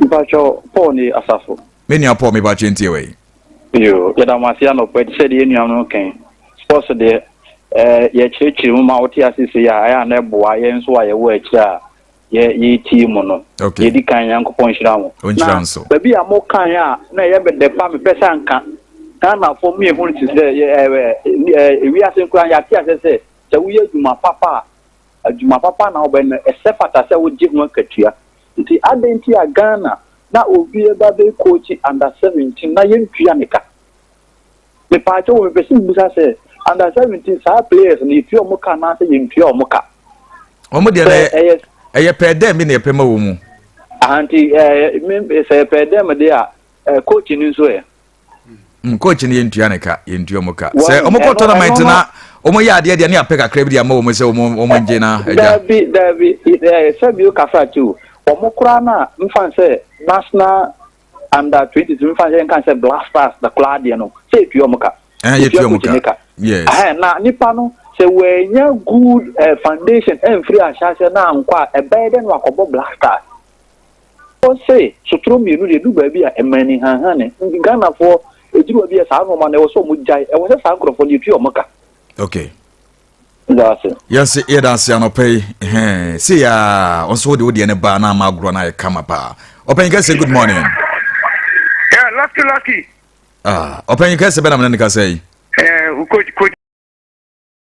[SPEAKER 2] Mpatsɔ
[SPEAKER 5] Paul ne asafo. Me nua Paul me ba kyɛ
[SPEAKER 2] ntie wei. Yoo yɛda
[SPEAKER 5] mo ase anɔpa yi te sɛ deɛ yɛn nuanom no kan sports deɛ ɛɛ eh, yɛkyerɛkyerɛ mu ma wote ase sei a ɛyɛ a na ɛboa yɛn nso a yɛwɔ akyire a yɛ yɛtie mu no okay. yɛdi kan nyankopɔn nhyira mo na baabi a
[SPEAKER 2] mo kan a
[SPEAKER 5] na ɛyɛ mede pa mepɛ sɛ anka ghanafoɔ mu yɛhu no te sɛ ewiase nkora yɛate asɛ sɛ sɛ woyɛ adwuma papa a adwuma papa na wobɛyɛ no, ɛsɛ fata sɛ wogye ho akatua. Nti adɛn nti a Ghana na obi reba abɛ coachi under 17 na yɛntua ne ka? Mepaakyɛw o, mepɛ sɛ mebisa sɛ, under 17 saa players no yɛtua wɔn ka anaasɛ yɛntua wɔn ka? Wɔn deɛ na
[SPEAKER 2] ɛyɛ ɛyɛ pɛɛ dɛm bi na yɛpɛ ma wɔn mu. Aha nti
[SPEAKER 5] ɛɛ sɛ yɛpɛɛ dɛm deɛ a coach no nso ɛ? mm, coach
[SPEAKER 2] no yɛntua ne ka yɛntua mu ka sɛ ɔmokɔ tournament na ɔmɔyɛ adeɛ deɛ ne apɛ kakra bi de ama wɔ mu sɛ ɔmɔ ngye na agya daabi daabi
[SPEAKER 5] sɛ bio kasa too wɔn koraa no a mfa sɛ national under twenty two mfa sɛ nka sɛ black stars na koraa deɛ no sɛ etua wɔn ka etua wɔn ka
[SPEAKER 2] yes na nipa no
[SPEAKER 5] sɛ wɔanya good eh, foundation ɛnfiri ahyɛahyɛ na ankɔ a ɛbɛyɛ dɛ no akɔbɔ black stars Ɔse sotro mmienu deɛ ɛdu baabi a ɛma ani hanhane. Nti Ghanafoɔ ɛduru baabi a saa nnoɔma no ɛwɔ sɛ wɔn gyae. Ɛwɔ sɛ saa nkorɔfoɔ no yɛtua wɔn ka. Okay.
[SPEAKER 2] Yɛdase.
[SPEAKER 5] Yɛse yɛdase anɔpɛ
[SPEAKER 2] yi. Hɛn. Se ya ɔnso wode wodeɛ ne baa na ama agorɔ no ayɛ kama paa. Ɔpanyin kɛse good morning.
[SPEAKER 6] Yeah, lucky lucky. Ah,
[SPEAKER 2] ɔpanyin kɛse bɛnam ne ne kasa yi. Eh, uh,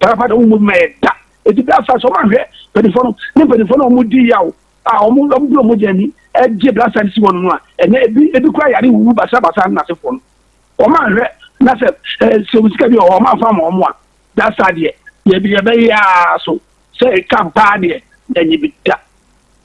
[SPEAKER 7] parapata wɔn mu mma yɛ da eti bere asa sɛ wɔn ahwɛ mpanyinfoɔ no ne mpanyinfoɔ no a wɔn di yaw a wɔn wɔn bere wɔn gya ani ɛgye bere asa si wɔn no a ɛnɛ ebi ebi kura yare wuwu basabasa ne n'asefoɔ no wɔn ahwɛ na sɛ ɛɛ sɛ wɔn sika bi wɔ hɔ wɔn afa ma wɔn a dasa deɛ yɛbi yɛbɛyɛ aa so sɛ ɛka paa deɛ ɛnyɛ bi da.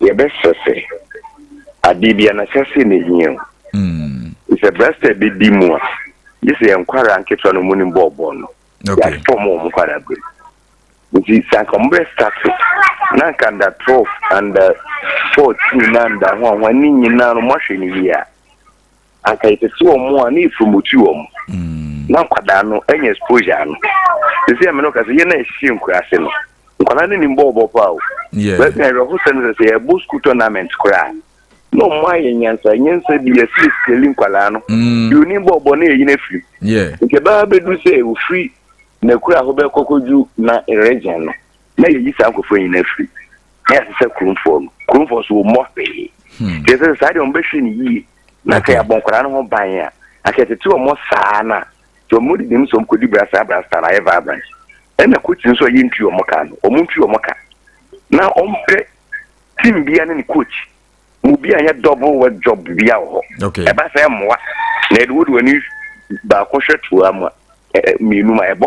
[SPEAKER 3] Yɛbɛsɛsɛ adeɛ biara na sɛsɛ na ɛhia o. Te sɛ berɛ sɛ bɛdi mu a, gye sɛ yɛn nkwadaa nketewa no mu nim bɔɔlbɔ no, yɛafɔ mu wɔn
[SPEAKER 2] nkwadaa
[SPEAKER 3] berɛ mu. Nti sɛ anka wɔn bɛ starte na anka under 12, under 14 na under hwan hwan ne nyinaa no wɔahwɛ no yie a, anka yɛtete wɔn a na yɛpromote wɔn na nkwadaa no anya exposure no ɛsɛ yɛ me no ka sɛ yɛn a yɛhyehyɛ nkuraase no nkwadaa no nim bɔɔlbɔ paa o baabi a yɛrɛho
[SPEAKER 2] sɛ no sɛ
[SPEAKER 3] sɛ yɛbɔ school tournament koraa na ɔmo ayɛ nyansa nyansa bi yɛsɛ sikali nkwadaa no deɛ onim bɔɔlbɔ no yɛyi no afiri nti ɛbɛba
[SPEAKER 2] bɛdu sɛ
[SPEAKER 3] ofiri n'akura ho bɛkɔkɔdwu na region no na yɛyi saa nkɔfoɔ nyina afiri na yɛasesɛ kuromfoɔ no kuromfoɔ so wɔmmɔ hwee deɛ sɛ saa deɛ ɔmbɛhwɛ no yie na sɛ yɛabɔ nkwadaa no ho ban a na sɛ yɛtete wɔn saa no a sɛ wɔn didi mu sɛ wɔn kɔdi brasa brasa na ayɛ vibrant ɛna coach nso a yɛntu wɔn ka no wɔn ntu wɔn ka na wɔmpɛ team bia ne ne coach mu bi a yɛ double work job bia wɔ hɔ ɛba sɛ mmoa na ɛde wode w'ani baako hwɛ toa mu a mmienu ma ɛbɔ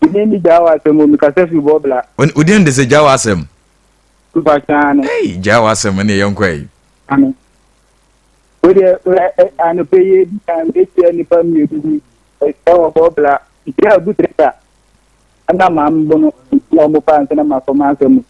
[SPEAKER 4] Mene ne gyaa w'asɛm o, mekasa fi bɔbla. Wo din de sɛ gyaa
[SPEAKER 2] w'asɛm? Tupa
[SPEAKER 4] kyaane. Ei, gyaa w'asɛm
[SPEAKER 2] ne yɛn kɔ yi. Ano.
[SPEAKER 4] Wo deɛ anɔpɛ yi ebi kan ehyia nipa mmienu bi ɛhyia wɔ bɔbla. Nhyia agu teta. Ɛna maa mbono na wɔn pa nsa na ma kɔma asɛm.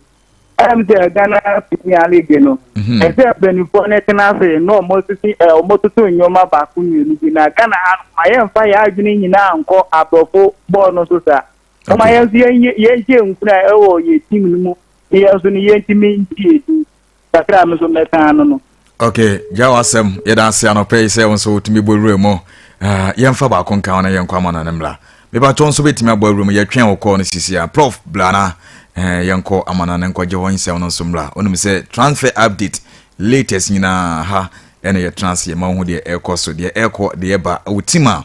[SPEAKER 4] ɛm sɛ Ghana Premier League no mhm. ɛsɛ mpanimfoɔ no tena ase na wɔsisi wɔtoto nneɛma baako mmienu bi na Ghana ha no ma yɛmfa yɛn adwene nyinaa nkɔ aborɔfo bɔɔl no so saa ɔma yɛn nso yɛnhyɛ nkura ɛwɔ yɛn tim no mu yɛn nso no yɛntumi ntie din kakra a me nso mɛka ano no ok gya
[SPEAKER 2] w'asɛm yɛda ase anɔpɛ yi sɛ wo nso wotumi bɔ wura mu ah, yɛmfa baako nka wo na yɛnkɔ ama no ne mmra mebatɔ nso bɛtumi abɔ awura mu yɛtwɛn wo kɔɔ no sisi a prof blana eh, yɛnkɔ ama no ne nkɔgye hɔ nsɛm no nso mmra wonim sɛ transfer update latest nyinaa ha ɛna yɛtena ase yɛma wo ho deɛ ɛrekɔ so deɛ ɛrekɔ deɛ ɛba wotim a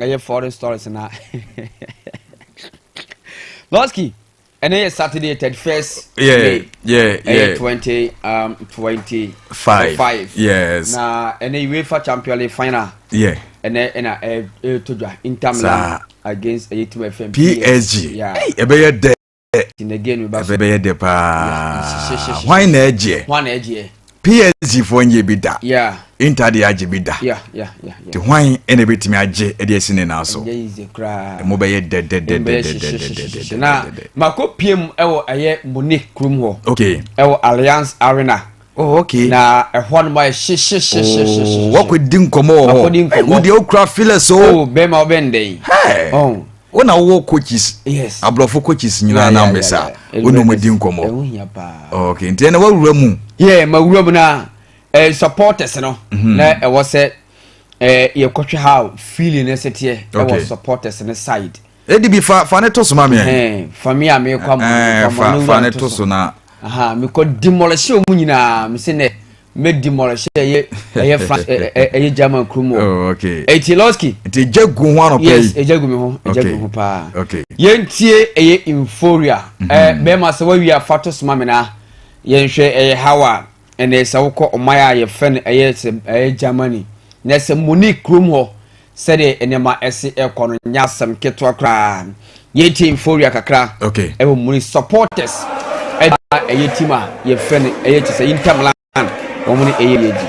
[SPEAKER 8] ɛyɛ foreign stories na lɔski ɛnɛ yɛ saturday thirty first may ɛyɛ
[SPEAKER 2] twenty um twenty
[SPEAKER 8] five yes na
[SPEAKER 2] ɛnɛ uefa
[SPEAKER 8] champion league final ɛnɛ ɛna ɛtɔ dwa inter milan against ɛyɛ team fm psg
[SPEAKER 2] ɛbɛyɛ
[SPEAKER 8] dɛ.
[SPEAKER 2] dɛ
[SPEAKER 8] ɛbɛyɛ dɛ paa hwan
[SPEAKER 2] na ɛgyeɛ
[SPEAKER 8] psg foɔ
[SPEAKER 2] nyɛ bi da inter deɛ
[SPEAKER 8] agye bi
[SPEAKER 2] da nti
[SPEAKER 8] hwan
[SPEAKER 2] ɛna ɛbɛtumi agye ɛde asi ne naa so ɛmu
[SPEAKER 8] bɛyɛ
[SPEAKER 2] dɛdɛdɛdɛdɛdɛdɛdɛdɛdɛ
[SPEAKER 8] na makɔ pm ɛwɔ ɛyɛ mone kurom hɔ okay ɛwɔ alliance arena Oh, okay. Na
[SPEAKER 2] ɛhɔ no ma yɛ
[SPEAKER 8] hyehyehyehyehyehye. Wɔkɔ
[SPEAKER 2] di nkɔmɔ wɔ hɔ. Wɔkɔ di nkɔmɔ. Wo deɛ okura feelers o. Oh, bɛrima ɔbɛn dɛ
[SPEAKER 8] yi. Hey. Oh.
[SPEAKER 2] Wo na wowɔ
[SPEAKER 8] coaches.
[SPEAKER 2] Yes. Aborɔfo coaches
[SPEAKER 8] nyinaa
[SPEAKER 2] na mbɛ sa. Wo na wɔn di nkɔmɔ. Ɛho hia paa. Oh, okay. Nti ɛna wawura mu. Yeah, ma wura mu na
[SPEAKER 8] ɛɛ eh, supporters no. Mhm. Na ɛwɔ sɛ ɛɛ eh, yɛkɔhwɛ how feeling ɛsɛ teɛ. Ɛwɔ supporters no side. Edi bi fa
[SPEAKER 2] fa ne
[SPEAKER 8] to
[SPEAKER 2] so ma mi. Fa mi a mi
[SPEAKER 8] kɔ ama
[SPEAKER 2] mi kɔ ama
[SPEAKER 8] ne wura
[SPEAKER 2] ne to so na.
[SPEAKER 8] Mi kɔ dimɔlɛhyɛ wɔn nyinaa mi se nɛ mɛ dimɔlɛhyɛ ɛyɛ ɛyɛ France ɛyɛ German kurom o. Eti
[SPEAKER 2] lɔski. Eti
[SPEAKER 8] egya gu ho
[SPEAKER 2] anɔpɛ yi. Yes egya gu mi ho egya
[SPEAKER 8] gu mi ho paa. Yɛn tie
[SPEAKER 2] ɛyɛ
[SPEAKER 8] euphoria. Ɛɛ bɛrima sɛ wawie afa to so ma mi na yɛn hwɛ ɛyɛ how a. Ɛnɛ sɛ wokɔ ɔman a yɛfrɛ no ɛyɛ sɛ ɛyɛ Germany na sɛ Munich kurom hɔ sɛdeɛ nneɛma ɛsi ɛkɔ no nyɛ asɛm ketewa koraa. Yɛtie euphoria kakra okay. ɛwɔ Munich
[SPEAKER 2] supporters
[SPEAKER 8] ɛda ɛyɛ team a yɛfrɛ no ɛyɛ te sɛ Inter Milan wɔn ne ɛyɛ yɛdi.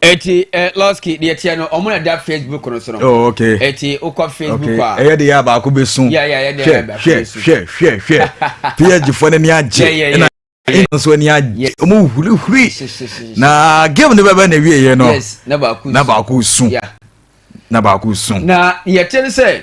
[SPEAKER 8] eti ɛ eh, lɔski deɛ teɛ no ɔmo na da facebook no so no. oh okay eti
[SPEAKER 2] okɔ facebook
[SPEAKER 8] a. ɛyɛ de yɛ abaako bɛ sun.
[SPEAKER 2] yɛ yɛ yɛ de yɛ abaako bɛ
[SPEAKER 8] sun. hwɛ hwɛ
[SPEAKER 2] hwɛ hwɛ psg fɔ ne ni agye ɛna ɛna nso ani agye ɔmo hurihuri na game ne bɛ bɛ na ewie yɛ no na
[SPEAKER 8] baako sun na baako
[SPEAKER 2] sun. na yɛte ne sɛ.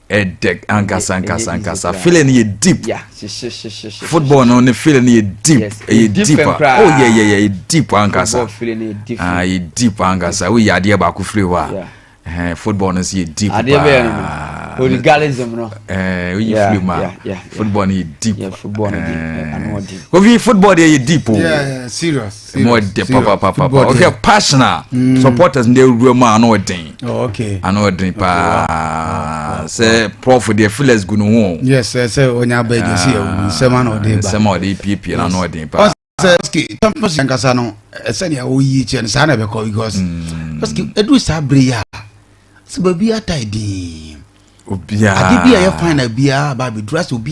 [SPEAKER 2] ɛdɛ ankasa ankasa ankasa feeling no yɛ deep
[SPEAKER 8] football
[SPEAKER 2] no ne feeling no yɛ deep ɛyɛ deep a oh yɛ yɛ yɛ deep ankasa ah
[SPEAKER 8] yɛ deep ankasa
[SPEAKER 2] o yɛ adeɛ baako firi hɔ a football no nso yɛ deep paa
[SPEAKER 8] hooliganism no ɛɛ oyi firi mu
[SPEAKER 2] a football no yɛ deep
[SPEAKER 8] kofi football deɛ
[SPEAKER 2] yɛ deep o oh. serious.
[SPEAKER 1] ɛmu ɔdɛ papapapa
[SPEAKER 2] ɔhwɛ passion a mm. supporters ndɛ awura mu a ano ɔden oh, ano
[SPEAKER 1] ɔden paa
[SPEAKER 2] sɛ prof deɛ felix gu ne ho yes sɛ ɔnya
[SPEAKER 1] abɛ gye si ɛwɔ ah, nsɛm ano ɔden ba nsɛm a ɔde piepie na ano
[SPEAKER 2] ɔden paa sɛ ɔsike champions
[SPEAKER 1] yankasa no ɛsɛnea eh, ɔyi kyɛ no saa na ɛbɛkɔ because ɔsike mm. ɛduru saa bere yi a sɛ baabi ata ɛdin obiara
[SPEAKER 2] ade bi a yɛ fine
[SPEAKER 1] na biara ba abɛduru asɛ obi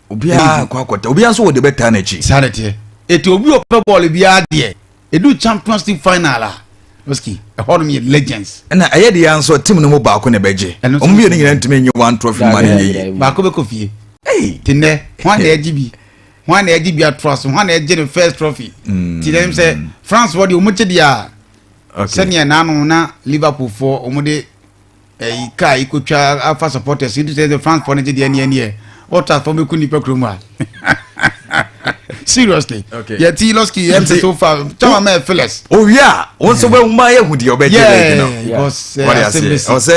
[SPEAKER 1] obiara kɔ
[SPEAKER 2] akɔta obiara nso wɔ deɛ bɛtaa n'akyi saa de teɛ eti obi
[SPEAKER 1] ɔpɛ bɔɔl biara deɛ edu champions league final a oski ɛhɔ nom yɛ legends ɛna ɛyɛ deɛ nso
[SPEAKER 2] tim no mu baako na ɛbɛgye wɔn mmienu nyinaa ntumi nye one trophy ma ne yɛ yie baako bɛkɔ fie
[SPEAKER 1] te nnɛ
[SPEAKER 2] hwan na
[SPEAKER 1] ɛgye bi hwan na ɛgye bi atoa so hwan na ɛgye ne first trophy mm. ti dɛm sɛ france wɔ deɛ wɔn gye deɛ a sɛdeɛ naanu na liverpool foɔ wɔn de eh, car ikotwa afa supporters yi sɛ sɛ france fɔ no gye deɛ neɛ neɛ otas fɔ mɛku nnipa kuro mu a seriously okay. yɛ ti lɔski
[SPEAKER 2] yɛ msɛ
[SPEAKER 1] so far kyɛma mɛ phyllis
[SPEAKER 2] owie a wo nso bɛhu ma yɛhu deɛ ɔbɛgye lɛgi no ɔsɛ